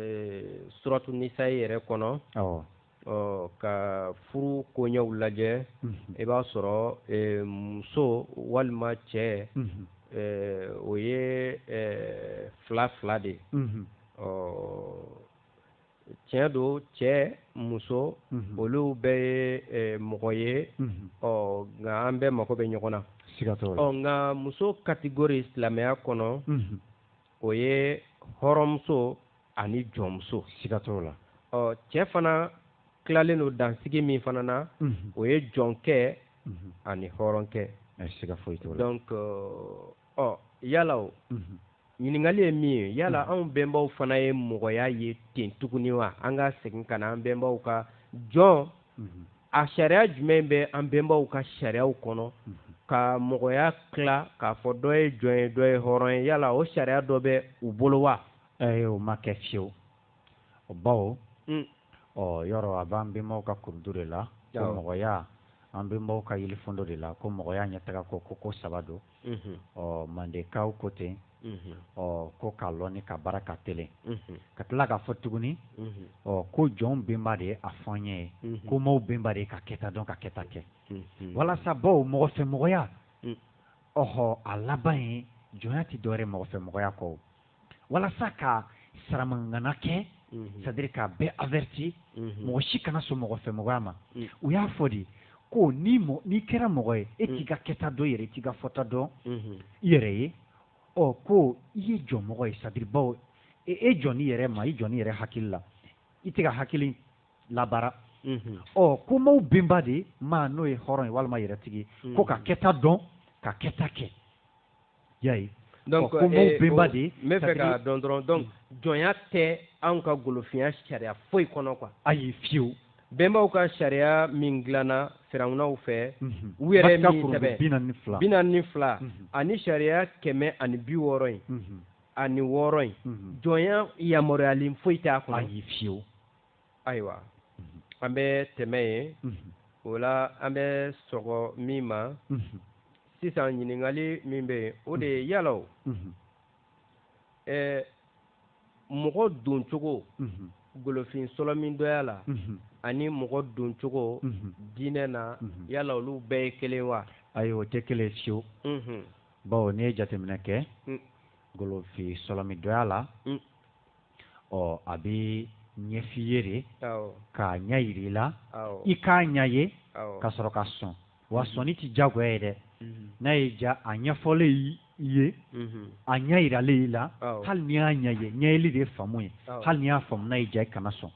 suratu nisayi yɛrɛ kɔnɔ ka furu koɲɛw lajɛ i b'a sɔrɔ muso walima cɛ o ye fila fila de ye ɔ tiɲɛ don cɛ muso mhm. olu bɛɛ ye eh, mɔgɔ ye mhm. ɔ nka an bɛɛ mago bɛ ɲɔgɔn na ɔ nka muso kategori silamɛya kɔnɔ mhm. o ye hɔrɔnmuso ani jɔnmuso siga t'o la ɔ cɛ fana tilalen don dansigi min fana na o ye jɔnkɛ ani hɔrɔnkɛ siga foyi t'o la donc ɔ yala o ɲininkali ye min ye yala hmm. anw bɛnbaw fana ye mɔgɔya ye ten tuguni wa an ka segin ka na an bɛnbaw ka jɔn hmm. a sariya jumɛn bɛ an bɛnbaw ka sariyaw kɔnɔ hmm. ka mɔgɔya tila k'a fɔ dɔ ye jɔn ye dɔ ye hɔrɔn ye yala o sariya dɔ bɛ u bolo wa ee o ma kɛ fiyewu o bawo ɔ yɔrɔ a b'an bɛnbaw ka kurundu de la ko mɔgɔya an bɛnbaw ka yelifɔndo de la ko mɔgɔya ɲɛtaga ko ko ko saba don ɔ mandekaw ko ten ɔ ko ka lɔni ka baara ka telen ka tila k'a fɔ tuguni ɔ ko jɔn benba de ye a fɔ n ye ko maaw benba de ye ka kɛta dɔn ka kɛta kɛ walasa bawo mɔgɔfɛmɔgɔya ɔhɔ a laban ye jɔnya tɛ dɔwɛrɛ mɔgɔfɛmɔgɔya kɔ walasa ka saramangana kɛ mhm. c'est-à-dire k'a bɛɛ averti mhm. mɔgɔ si kana sɔn mɔgɔfɛmɔgɔya ma mm. u y'a fɔ de ko ni n'i kɛra mɔgɔ ye e mm. t'i ka kɛta dɔn i yɛrɛ i t'i ka fɔta dɔn mhm. i yɛrɛ ye ɔ ko i ye jɔnmɔgɔ ye c'est-à-dire bawo e, e jɔn i yɛrɛ ma i jɔn i yɛrɛ hakili la i t'i ka hakili labaara Mm-hmm. ɔ ko maaw benba de ma n'o ye hɔrɔn ye walima yɛrɛtigi ko mm-hmm. ka kɛta dɔn ka kɛta kɛ y'a ye donc ko b'o eh, bɛnba de n b'a fɛ k'a dɔn dɔrɔn donc mm. jɔnya tɛ anw ka golofinya sariya foyi kɔnɔ quoi ayi fiyew bɛnbaw ka sariya min dilanna firawunaw fɛ mhm. u yɛrɛ min sɛbɛn bi naani ni fila mhm. ani sariya kɛmɛ ani bi wɔɔrɔ in mhm. ani wɔɔrɔ in jɔnya yamaruyalen foyi t'a kɔnɔ ayi fiyew ayiwa an bɛ tɛmɛ yen o la an bɛ sɔgɔ min ma sisan ɲininkali min bɛ yen o de ye yala o ɛɛ mɔgɔ doncogo golofin sɔlɔmindɔya la ani mɔgɔ doncogo diinɛ na yala olu bɛɛ ye kelen wa ayi o tɛ kelen fiyewu bawo n'i ye jateminɛ kɛ golofin sɔlɔmindɔya la ɔ a bɛ ɲɛf'i ye de k'a ɲɛ yir'i la i k'a ɲɛ ye ka sɔrɔ ka sɔn wa mhm. sɔnni tɛ diyagoya ye dɛ mhm. n'a y'i ja a ɲɛfɔlen i ye mhm. a ɲɛ yiralen i la hali n'i y'a ɲɛ ye ɲɛyeli de ye faamu ye hali n'i y'a faamu n'a y'i ja i kana sɔn.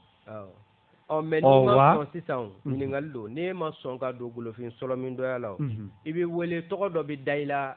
ɔ mɛ n'i ma sɔn sisan o mhm. ɲininkali don n'e ma sɔn ka don golofin sɔlɔmindɔya la o mhm. i bɛ wele tɔgɔ dɔ bɛ da i la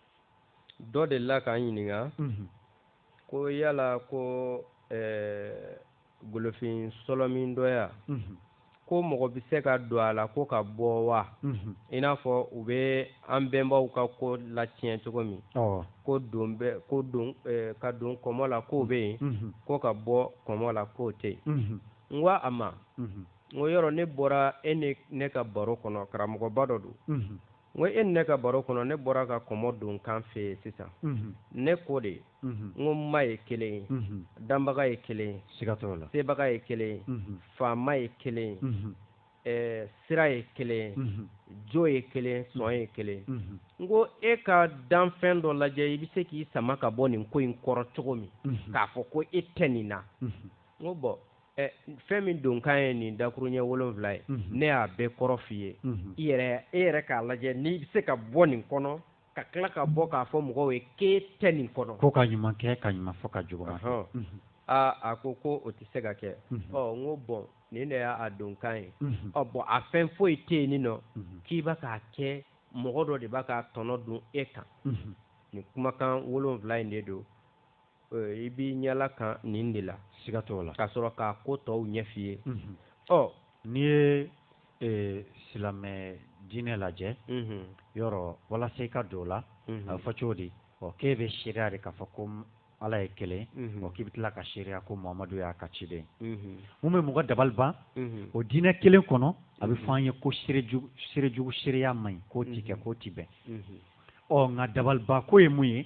dɔ delila k'an ɲininka mhm. ko yala ko eh, golofin sɔlɔmindɔya mhm. ko mɔgɔ bɛ se ka don a la ko ka bɔ wa mhm. i n'a fɔ u bɛ an bɛnbaw ka ko latiɲɛ cogo min ko don bɛ ko don eh, ka don kɔmɔ la k'o bɛ yen ko ka bɔ kɔmɔ la k'o tɛ yen n ko a ma n k'o yɔrɔ ne bɔra e ni ne ka baro kɔnɔ karamɔgɔba dɔ don n ko e ni ne ka baro kɔnɔ ne bɔra ka kɔmɔ donkan f'e ye sisan ne ko de n ko ma ye kelen ye danbaga ye kelen ye siga t'o la sebaga ye kelen ye faama ye kelen ye sira ye kelen ye jo ye kelen sɔn ye kelen n ko e ka danfɛn dɔ lajɛ i bɛ se k'i sama ka bɔ nin ko in kɔrɔ cogo min k'a fɔ ko e tɛ nin na n ko bɔn ɛ fɛn min donkan ye nin dakuruɲɛ wolonfila ye ne y'a bɛɛ kɔrɔ f'i ye i yɛrɛ e yɛrɛ k'a lajɛ n'i bɛ se ka bɔ nin kɔnɔ ka tila ka bɔ k'a fɔ mɔgɔw ye k'e tɛ nin kɔnɔ ko ka ɲuman kɛ ka ɲuman fɔ ka jugu fɔ aa a ko ko o tɛ se ka kɛ ɔ n ko bɔn nin de y'a donkan ye ɔ bɔn a fɛn foyi tɛ yen nin nɔ k'i bɛ k'a kɛ mɔgɔ dɔ de b'a ka tɔnɔ dun e kan nin kumakan wolonfila in de don i b'i ɲɛla kan nin de la siga t'o la ka sɔrɔ k'a ko tɔw ɲɛf'i ye ɔ n'i ye silamɛ diinɛ lajɛ yɔrɔ walasa i ka don o la a bɛ fɔ cogo di ɔ k'e bɛ seereya de k'a fɔ ko ala ye kelen ɔ k'i bɛ tila ka seereya ko muhamadu y'a ka ciden mun bɛ mɔgɔ dabali ban o diinɛ kelen kɔnɔ a bɛ fɔ an ye ko seerejugu seereya man ɲi k'o tɛ kɛ k'o tɛ bɛn ɔ nka dabalibanko ye mun ye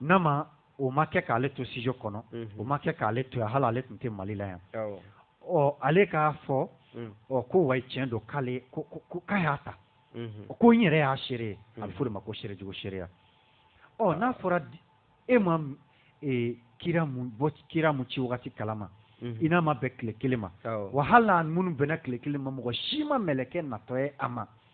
n'a ma o ma kɛ k'ale to studio kɔnɔ o ma kɛ k'ale to yan hali ale tun tɛ Mali la yan ɔ ale k'a fɔ ɔ ko wayi tiɲɛ don k'ale ko ko k'a y'a ta ko n yɛrɛ y'a seere ye a bɛ f'o de ma ko seerejugu seereya ɔ n'a fɔra e ma kira mun bɔ kira mun ci wagati kalama i n'a ma bɛn tile kelen ma wa hali n'a minnu bɛnna tile kelen ma mɔgɔ si ma mɛlɛkɛ natɔ ye a ma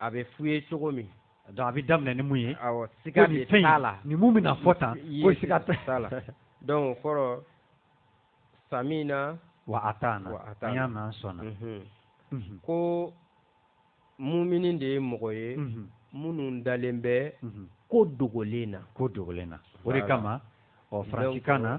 a bɛ f'u ye cogo min donc a bɛ daminɛ ni mun ye awɔ siga de t'a la ni mun bɛna fɔ tan ko siga t'a la donc o kɔrɔ samina wa ataana an y'a mɛn an sɔnna mhm. Mhm. ko mumini de ye mɔgɔ ye mhm. minnu dalen bɛ ko dogolen na ko dogolen na o de kama ɔ faransikan na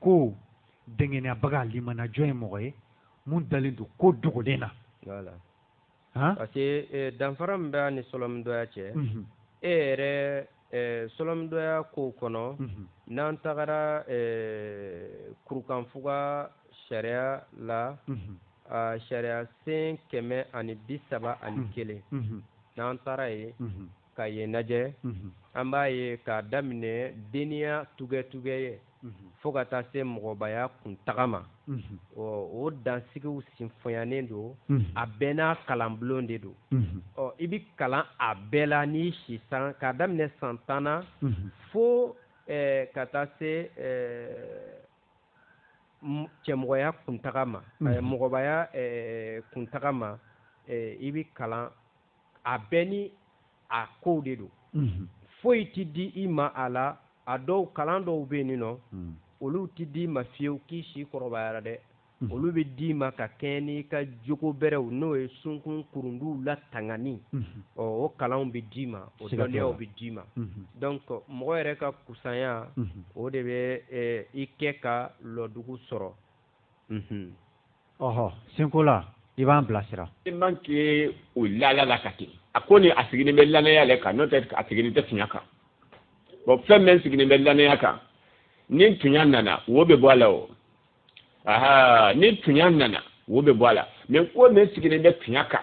ko dɛngɛnɛyabaga limanajɔ ye mɔgɔ ye mun dalen don ko dogolen na voilà han parce que eh, danfara min bɛ a ni sɔlɔmidɔya cɛ mm -hmm. e yɛrɛ eh, sɔlɔmidɔya kow kɔnɔ mm -hmm. n'an tagara eh, kurukanfuga sariya la mm -hmm. a sariyasen kɛmɛ ani bi saba ani kelen n'an taara yen ka yen lajɛ an b'a ye k'a daminɛ deniya tugɛtugɛ ye fo ka taa se mɔgɔbaya kuntaga ma ɔ o dansigiw sinfɔnyanen don a bɛɛ n'a kalanbulon de don ɔ i bɛ kalan a bɛɛ la n'i si san k'a daminɛ san tan na fo ka taa se cɛmɔgɔya kuntaga ma mɔgɔbaya kuntaga ma i bɛ kalan a bɛɛ ni a kow de don foyi tɛ di i ma a la a dɔw kalan dɔw bɛ nin nɔ olu tɛ di i ma fiyewu k'i si kɔrɔbayara dɛ olu bɛ d'i ma ka kɛɲɛ n'i ka jogo bɛrɛw n'o ye sunkun kurunduw latangani ɔ o kalanw bɛ d'i ma o dɔnniyaw bɛ d'i ma donc mɔgɔ yɛrɛ ka kusanya o de bɛ i kɛ ka lɔdugu sɔrɔ Mhm. ɔhɔ senko la i b'an bilasira. i man k'i o laala la ka kɛ a ko ni a sigilen bɛ lanaya yɛrɛ kan n'o tɛ a sigilen tɛ tunya kan bɔn fɛn min sigilen bɛ lanaya kan ni tunya nana wo bɛ bɔ a la o aha ni tunya nana wo bɛ bɔ a la mɛ ko min sigilen bɛ tunya kan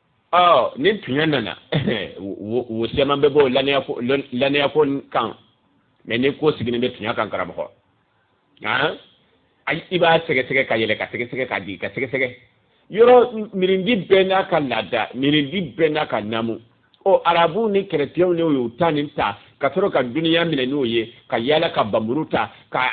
ɔ ni tuɲɛ nana wo caman bɛ bɔ lanayako kan mɛ ni ko sigilen bɛ tuɲɛ kan karamɔgɔ han i b'a sɛgɛsɛgɛ ka yɛlɛ ka sɛgɛsɛgɛ ka jigi ka sɛgɛsɛgɛ yɔrɔ mirindi bɛɛ n'a ka laada mirindi bɛɛ n'a ka namu ɔ arabu ni kɛrɛtiyɛnw ne y'u ta nin ta ka sɔrɔ ka duniya minɛ n'o ye ka yaala ka bamuru ta ka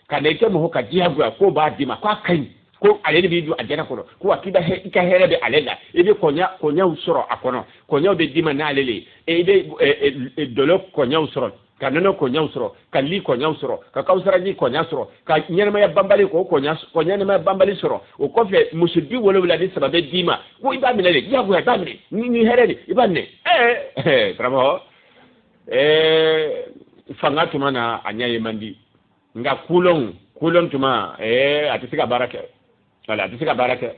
ka na i kɛ mɔgɔ ka diyagoya k'o b'a d'i ma k'a ka ɲi ko ale de b'i don alijɛnɛ kɔnɔ ko a k'i i ka hɛrɛ bɛ ale la i bɛ kɔɲa kɔɲaw sɔrɔ a kɔnɔ kɔɲaw bɛ d'i ma n'ale le ye i bɛ dɔlɔ kɔɲaw sɔrɔ ka nɔnɔ kɔɲaw sɔrɔ ka li kɔɲaw sɔrɔ ka kawusaraji kɔɲa sɔrɔ ka ɲɛnamaya banbali k'o kɔɲa ɲɛnamaya banbali sɔrɔ o kɔfɛ muso bi wolowula ni saba bɛ d'i ma ko i b'a minɛ de diyagoya i b'a minɛ ni ni hɛrɛ de i b'a minɛ ɛɛ karamɔgɔ ɛɛ fanga tuma na a ɲɛ ye man di nka kolon kolon tuma ee a tɛ se ka baara kɛ wala a tɛ se ka baara kɛ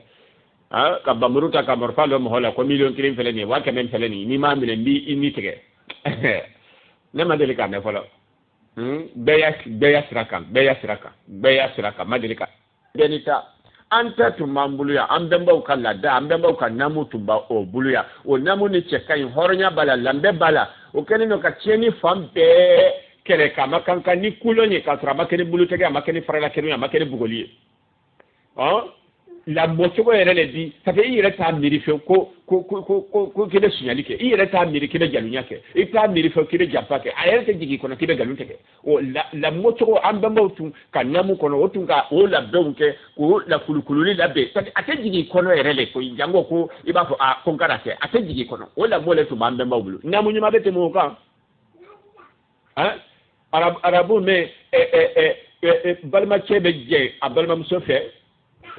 ka bamuru ta ka marifa lɔ mɔgɔ la ko miliyɔn kelen fɛlɛ nin ye waa kɛmɛ fɛlɛ nin n'i m'a minɛ n b'i ni tigɛ ne ma deli k'a mɛn fɔlɔ bɛɛ y'a sira kan bɛɛ y'a sira kan bɛɛ y'a sira kan ma deli ka gɛni ta an ta tun b'an bolo yan an bɛnbaw ka laada an bɛnbaw ka namu tun b'a o bolo yan o namu ni cɛ ka ɲi hɔrɔnya b'a la lanbɛ b'a la o kɛlen don ka tiɲɛni fan bɛɛ kɛlɛ k'a ma kan kan ni kolon ye k'a sɔrɔ a ma kɛ ni bolotɛgɛ a ma kɛ ni faralakɛnɛ ye a ma kɛ ni bugɔli ye ɔn lamɔcogo yɛrɛ de di sabu i yɛrɛ t'a miiri fewu ko ko ko ko ko k'i bɛ sunyali kɛ i yɛrɛ t'a miiri k'i bɛ jalunya kɛ i t'a miiri fewu k'i bɛ janfa kɛ a yɛrɛ tɛ jigin i kɔnɔ k'i bɛ nkalon tigɛ o lamɔcogo an bɛnbaw tun ka namu kɔnɔ o tun ka o labɛnw kɛ k'o lakulukululi labɛn parce que a tɛ jigin i kɔnɔ yɛrɛ de koyi janko ko i b'a fɔ a ko n kana kɛ a tɛ jigin i kɔnɔ o lamɔ de tun b'an bɛnbaw bolo namu ɲuman bɛ tɛmɛ o kan han arabu arabu min balimacɛ bɛ jɛn a balimamuso fɛ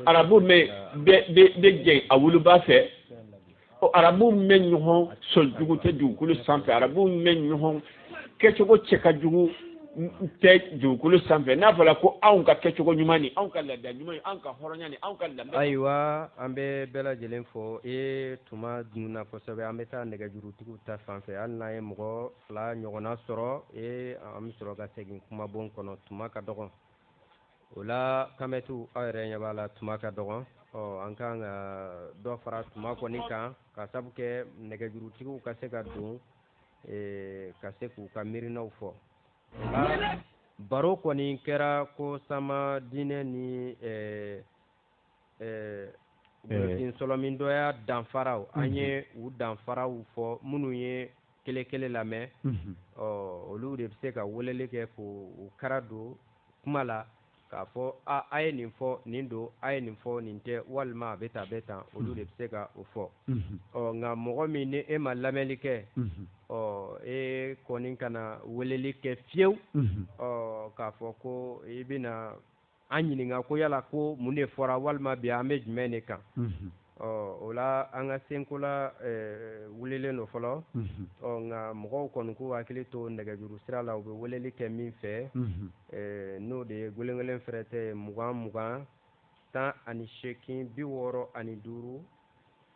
arabu min bɛ jɛn a woloba fɛ ko arabu min ɲɔgɔn sɔn jugu tɛ dugukolo sanfɛ arabu min ɲɔgɔn kɛcogo cɛ ka jugu tɛ dugukolo sanfɛ n'a fɔra ko anw ka kɛcogo ɲuman ni anw ka laada ɲuman anw ka hɔrɔnya ni anw ka lanbɛ ayiwa an bɛ bɛɛ lajɛlen fo e tuma dunna kosɛbɛ an bɛ taa nɛgɛjurutigiw ta fan fɛ hali n'an ye mɔgɔ fila ɲɔgɔnna sɔrɔ e an bɛ sɔrɔ ka segin kumabon kɔnɔ tuma ka dɔgɔn o la kamɛtiw aw yɛrɛ ɲɛ b'a la tuma ka dɔgɔn ɔ an ka kan ka dɔ fara tuma kɔni kan ka sabu kɛ nɛgɛjurutigiw ka se ka don ka se k'u ka miirinaw fɔ baro kɔni kɛra ko sama diinɛ ni ɛɛ Burusen sɔlɔmindɔya danfaraw an ye u danfaraw fɔ minnu ye kelen kelen lamɛn ɔ olu de bɛ se ka weleli kɛ ko u ka da don kuma la k'a fɔ a a ye nin fɔ nin don a ye nin fɔ nin tɛ walima a bɛ tan a bɛ tan olu de bɛ se ka o fɔ ɔ nka mɔgɔ min ni i ma lamɛnli kɛ ɔ e kɔni kana weleli kɛ fiyewu ɔ k'a fɔ ko i bɛna an ɲininka ko yala ko mun de fɔra walima bi an bɛ jumɛn de kan o la an ka senkola wulilen don fɔlɔ nka mɔgɔw kɔni k'u hakili to nɛgɛjuru sira la u bɛ weleli kɛ min fɛ n'o de ye gelengelen fɛrɛtɛ mugan mugan tan ani seegin bi wɔɔrɔ ani duuru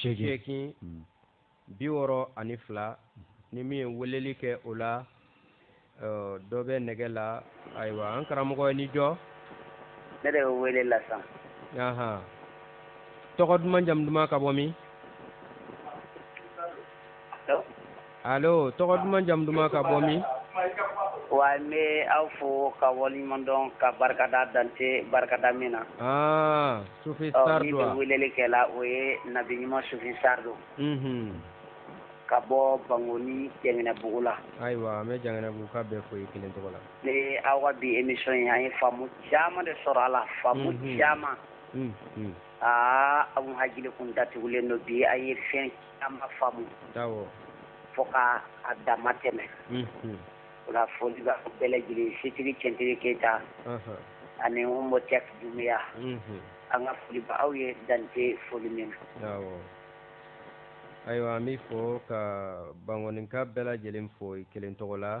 seegin hmm. bi wɔɔrɔ ani fila hmm. ni min ye weleli kɛ o la dɔ bɛ nɛgɛ la ayiwa an karamɔgɔ ye ni jɔn de bɛ wele la sisan. tɔgɔ duman jamu duman ka bɔ min. Allo tɔgɔ duman jamu duman ka bɔ min? Wa n bɛ aw fo ka waleɲuman dɔn ka barika da dan tɛ barikada min na, aa Sufi Sary don wa? Ɔ min bɛ weleli kɛ la o ye nabi ɲuman Sufi Sary don, unhun, ka bɔ Bankɔni Janginɛbugu la, ayiwa an bɛ Janginɛbuguka bɛɛ fo i kelen tɔgɔ la, ne aw ka bi émission in an ye faamu caman de sɔrɔ a la, faamu caman, unhun, aa aw hakili tun datugulen don bi a ye fɛn caman faamu fo k' a damatɛmɛ o la foli bɛ bɛɛ lajɛlen setiri cɛt keyita ani mɔ cɛ Dunbiya an ka foli b'aw ye dan tɛ foli min na ayiwa an bɛ i fo ka Bankɔnika bɛɛ lajɛlen fo i kelen tɔgɔ la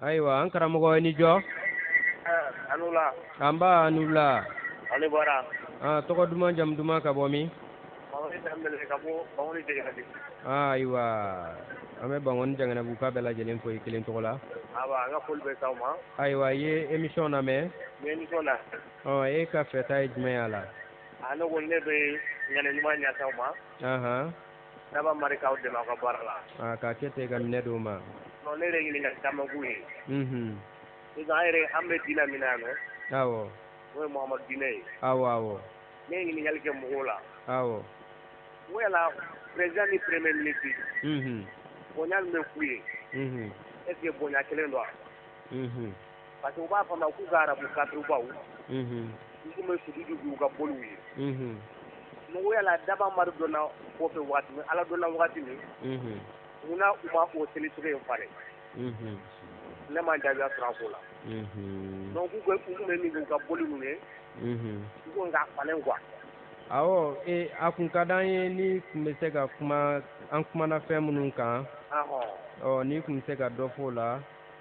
ayiwa an karamɔgɔ i ni jɔ a ni wula nba a ni wula a ni baara ah, tɔgɔ duman jamu duman ka bɔ min ah, ayiwa an bɛ Bankɔni Janginɛbuguka bɛɛ lajɛlen fo i kelen tɔgɔ la ayiwa i ye emisiyɔn lamɛn oh, e ka fɛta ye jumɛn y'a la ah, Daba Mari k'aw dɛmɛ ka baara la aa k'a kɛ tɛ ka minɛn d'aw ma ne yɛrɛ ɲini ka camanbugu ye an yɛrɛ an bɛ diinɛ min na dɛ awɔ o ye Mahamadu diinɛ ye awɔ awɔ ne ye ɲininkali kɛ mɔgɔw la awɔ wala président ni premier ministre bonya bɛ k'u ye est ce que bonya kelen don wa parce que u b'a fɔ an ma k'u ka arabu kafiribaw mhm. u tun bɛ sujudu k'u ka boliw ye mhm. mɔgɔ Ala Daba Mari dɔnna kɔfɛ waati min Ala dɔnna waati min mhm. mun na u ma o seli cogo in falen ne ma jaabiya sɔrɔ a ko la donc k'u u tun bɛ min k'u ka boli ninnu ye u ko nka falen quoi awɔ e a tun ka d'an ye n'i tun bɛ se ka kuma an kumana fɛn minnu kan ɔ n'i tun bɛ se ka dɔ fɔ o la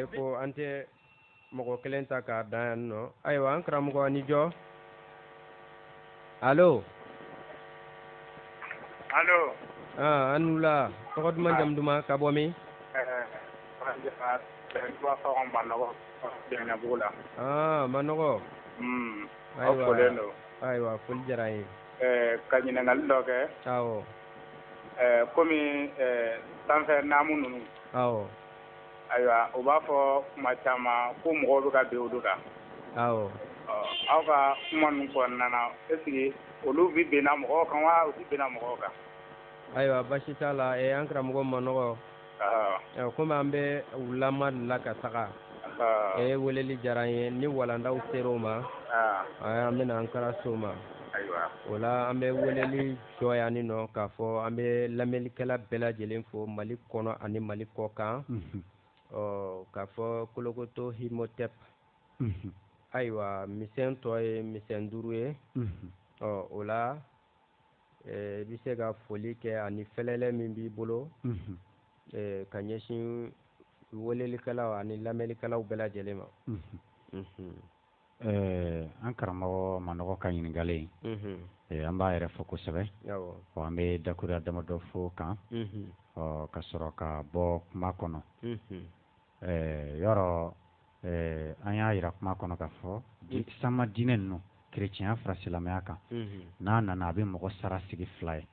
e ko an tɛ mɔgɔ kelen ta k'a dan yan nɔ ayiwa an karamɔgɔ i ni jɔ alo alo ah, a ni wula tɔgɔ duman jamu duman ka bɔ min eh, ah, manɔgɔ hmm, ayiwa foli diyara ye eh, ka ɲininkali dɔ kɛ awɔ eh, komi sanfɛ naamu ninnu awɔ Ayiwa u b'a fɔ kuma caman ko mɔgɔw bɛ ka bin olu kan, awɔ, ɔ aw ka kuma ninnu kɔnɔna na est ce que olu bɛ binna mɔgɔw kan wa u tɛ binna mɔgɔw kan? Ayiwa basi t'a la ɛ an karamɔgɔ manɔgɔ, ɔhɔ, komi an bɛ u laban de la ka taga, ɔhɔ, e weleli diyara an ye ni walandaw sera o ma, an an bɛna an kara se o ma, ayiwa, o la an bɛ weleli Sɔya ni nɔ k'a fɔ an bɛ lamɛnlikɛla bɛɛ lajɛlen fo mali kɔnɔ ani mali kɔkan ɔ k'a fɔ kolokoto hi mɔ tɛ ayiwa misɛn tɔ ye misɛn duuru ye ɔ o la i bɛ se ka foli kɛ ani fɛlɛlɛ min b'i bolo ka ɲɛsin welelikɛlaw ani lamɛnlikɛlaw bɛɛ lajɛlen ma Ɛɛ an karamɔgɔ manɔgɔ ka ɲininkali ye an b'a yɛrɛ fo kosɛbɛ an bɛ dakura damadɔ fɔ kan ɔ ka sɔrɔ ka bɔ kuma kɔnɔ ɛɛ yɔrɔ an y'a jira kuma kɔnɔ k'a fɔ sanma diinɛ ninnu kerecɛnya fara silamɛya kan n'a nana a bɛ mɔgɔ sara sigi fila ye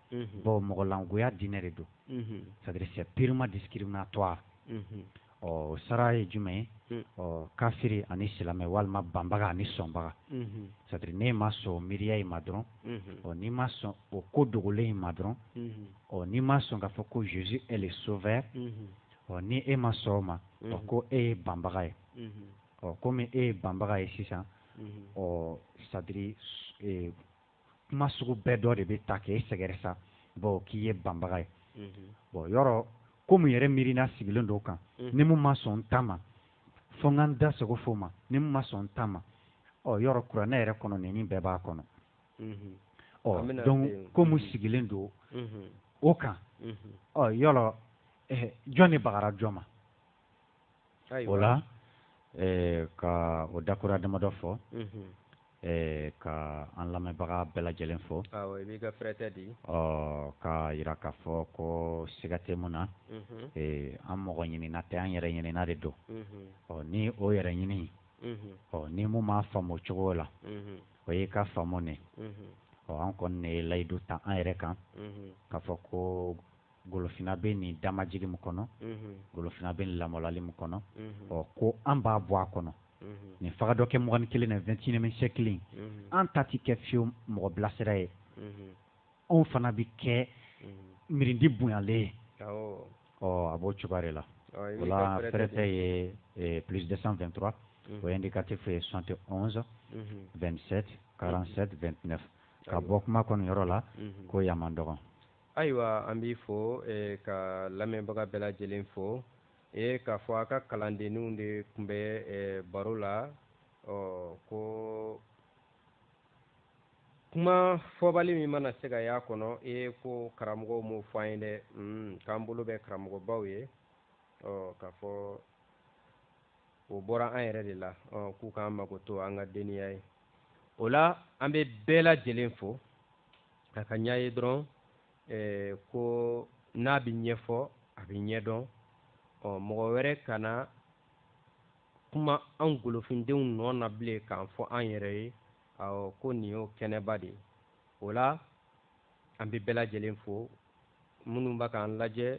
bawo mɔgɔlangoya diinɛ de don sadiri c'est purement discriminatoire ɔ sara ye jumɛn ye hmm. ɔ kafiri ani silamɛ walima banbaga ani sɔnbaga hmm. sadiri n'i ma sɔn o miiriya in ma dɔrɔn hmm. ɔ n'i ma sɔn o ko dogolen in ma dɔrɔn ɔ n'i ma sɔn k'a fɔ ko jesus est le sauveur ɔ ni e ma sɔn o ma ɔ ko e ye banbaga ye ɔ komi e ye banbaga ye sisan ɔ sadiri e, kuma sugu bɛɛ dɔ de bɛ ta k'e sɛgɛrɛ sa bɔn k'i ye banbaga ye bɔn yɔrɔ komi yɛrɛ miiriina sigilen don o kan ni min ma sɔn n ta ma fo ka n da sago fɔ ma ni min ma sɔn n ta ma ɔ yɔrɔ kuranɛ yɛrɛ kɔnɔna nin bɛɛ b'a kɔnɔ ɔ donc komi sigilen don o kan ɔ yɔrɔ jɔn de bagara jɔn ma o la ka o dakura damadɔ fɔ ka an lamɛnbaga bɛɛ lajɛlen fo k'a jira k'a fɔ ko siga tɛ min na an mɔgɔ ɲinina tɛ an yɛrɛ ɲinina de don ɔ ni o yɛrɛ ɲini ɔ ni min m'a faamu cogo la o ye k'a faamu de ɔ an kɔni ne ye layidu ta an yɛrɛ kan k'a fɔ ko golofina bɛ nin damajigi min kɔnɔ golofina bɛ lamɔlali min kɔnɔ ɔ ko an b'a bɔ a kɔnɔ nin fa dɔ kɛ mɔgɔnin kelen na fɛntinimɛ kelen an ta tɛ kɛ fiyen mɔgɔ bilasira ye anw fana bɛ kɛ miiridi bonyalen ye ɔ a b'o cogoya de la wala fɛrɛɛrɛ ye plus 223 o indicatif ye 71 27 47 29 ka bɔ kuma kɔnɔ yɔrɔ la ko ya dɔgɔn ayiwa an b'i fo e, ka lamɛnbaga bɛɛ lajɛlen fo e, k'a fɔ a ka kalandenninw de tun bɛ e, baro la ɔ ko kuma fɔbali min mana se ka y'a kɔnɔ e ko karamɔgɔw m'o fɔ an ye dɛ mm, k'an bolo bɛ karamɔgɔbaw ye ɔ k'a fɔ o bɔra an yɛrɛ de la ɔ k'u k'an makoto an ka denniya ye o la an bɛ bɛɛ lajɛlen fo a ka ɲɛ ye dɔrɔn eh, ko n'a bɛ ɲɛfɔ a bɛ ɲɛdɔn ɔ mɔgɔ wɛrɛ kana kuma an golofindenw nɔ na bilen k'an fɔ an yɛrɛ ye awɔ ko nin y'o kɛnɛba de ye o la an bɛ bɛɛ lajɛlen fo minnu bɛ k'an lajɛ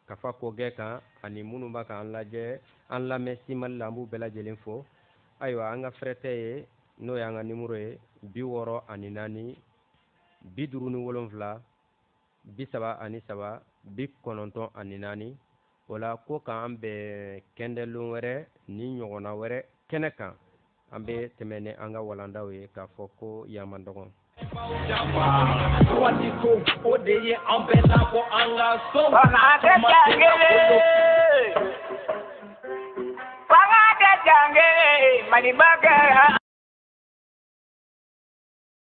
kafa kɔgɛ kan ani minnu bɛ k'an lajɛ an lamɛn simali la an b'u bɛɛ lajɛlen fo ayiwa an ka fɛrɛtɛ ye n'o y'an ka nimoro ye bi wɔɔrɔ ani naani bi duuru ni wolonfila bi saba ani saba bi kɔnɔntɔn ani naani o la ko k'an bɛn kɛndɛlon wɛrɛ ni ɲɔgɔnna wɛrɛ kɛnɛ kan an bɛ tɛmɛn ni an ka walandaw ye k'a fɔ ko yan man dɔgɔn Wali ko o de ye an bɛ labɔ an ka so Fanga ka danbe Mali ba kɛ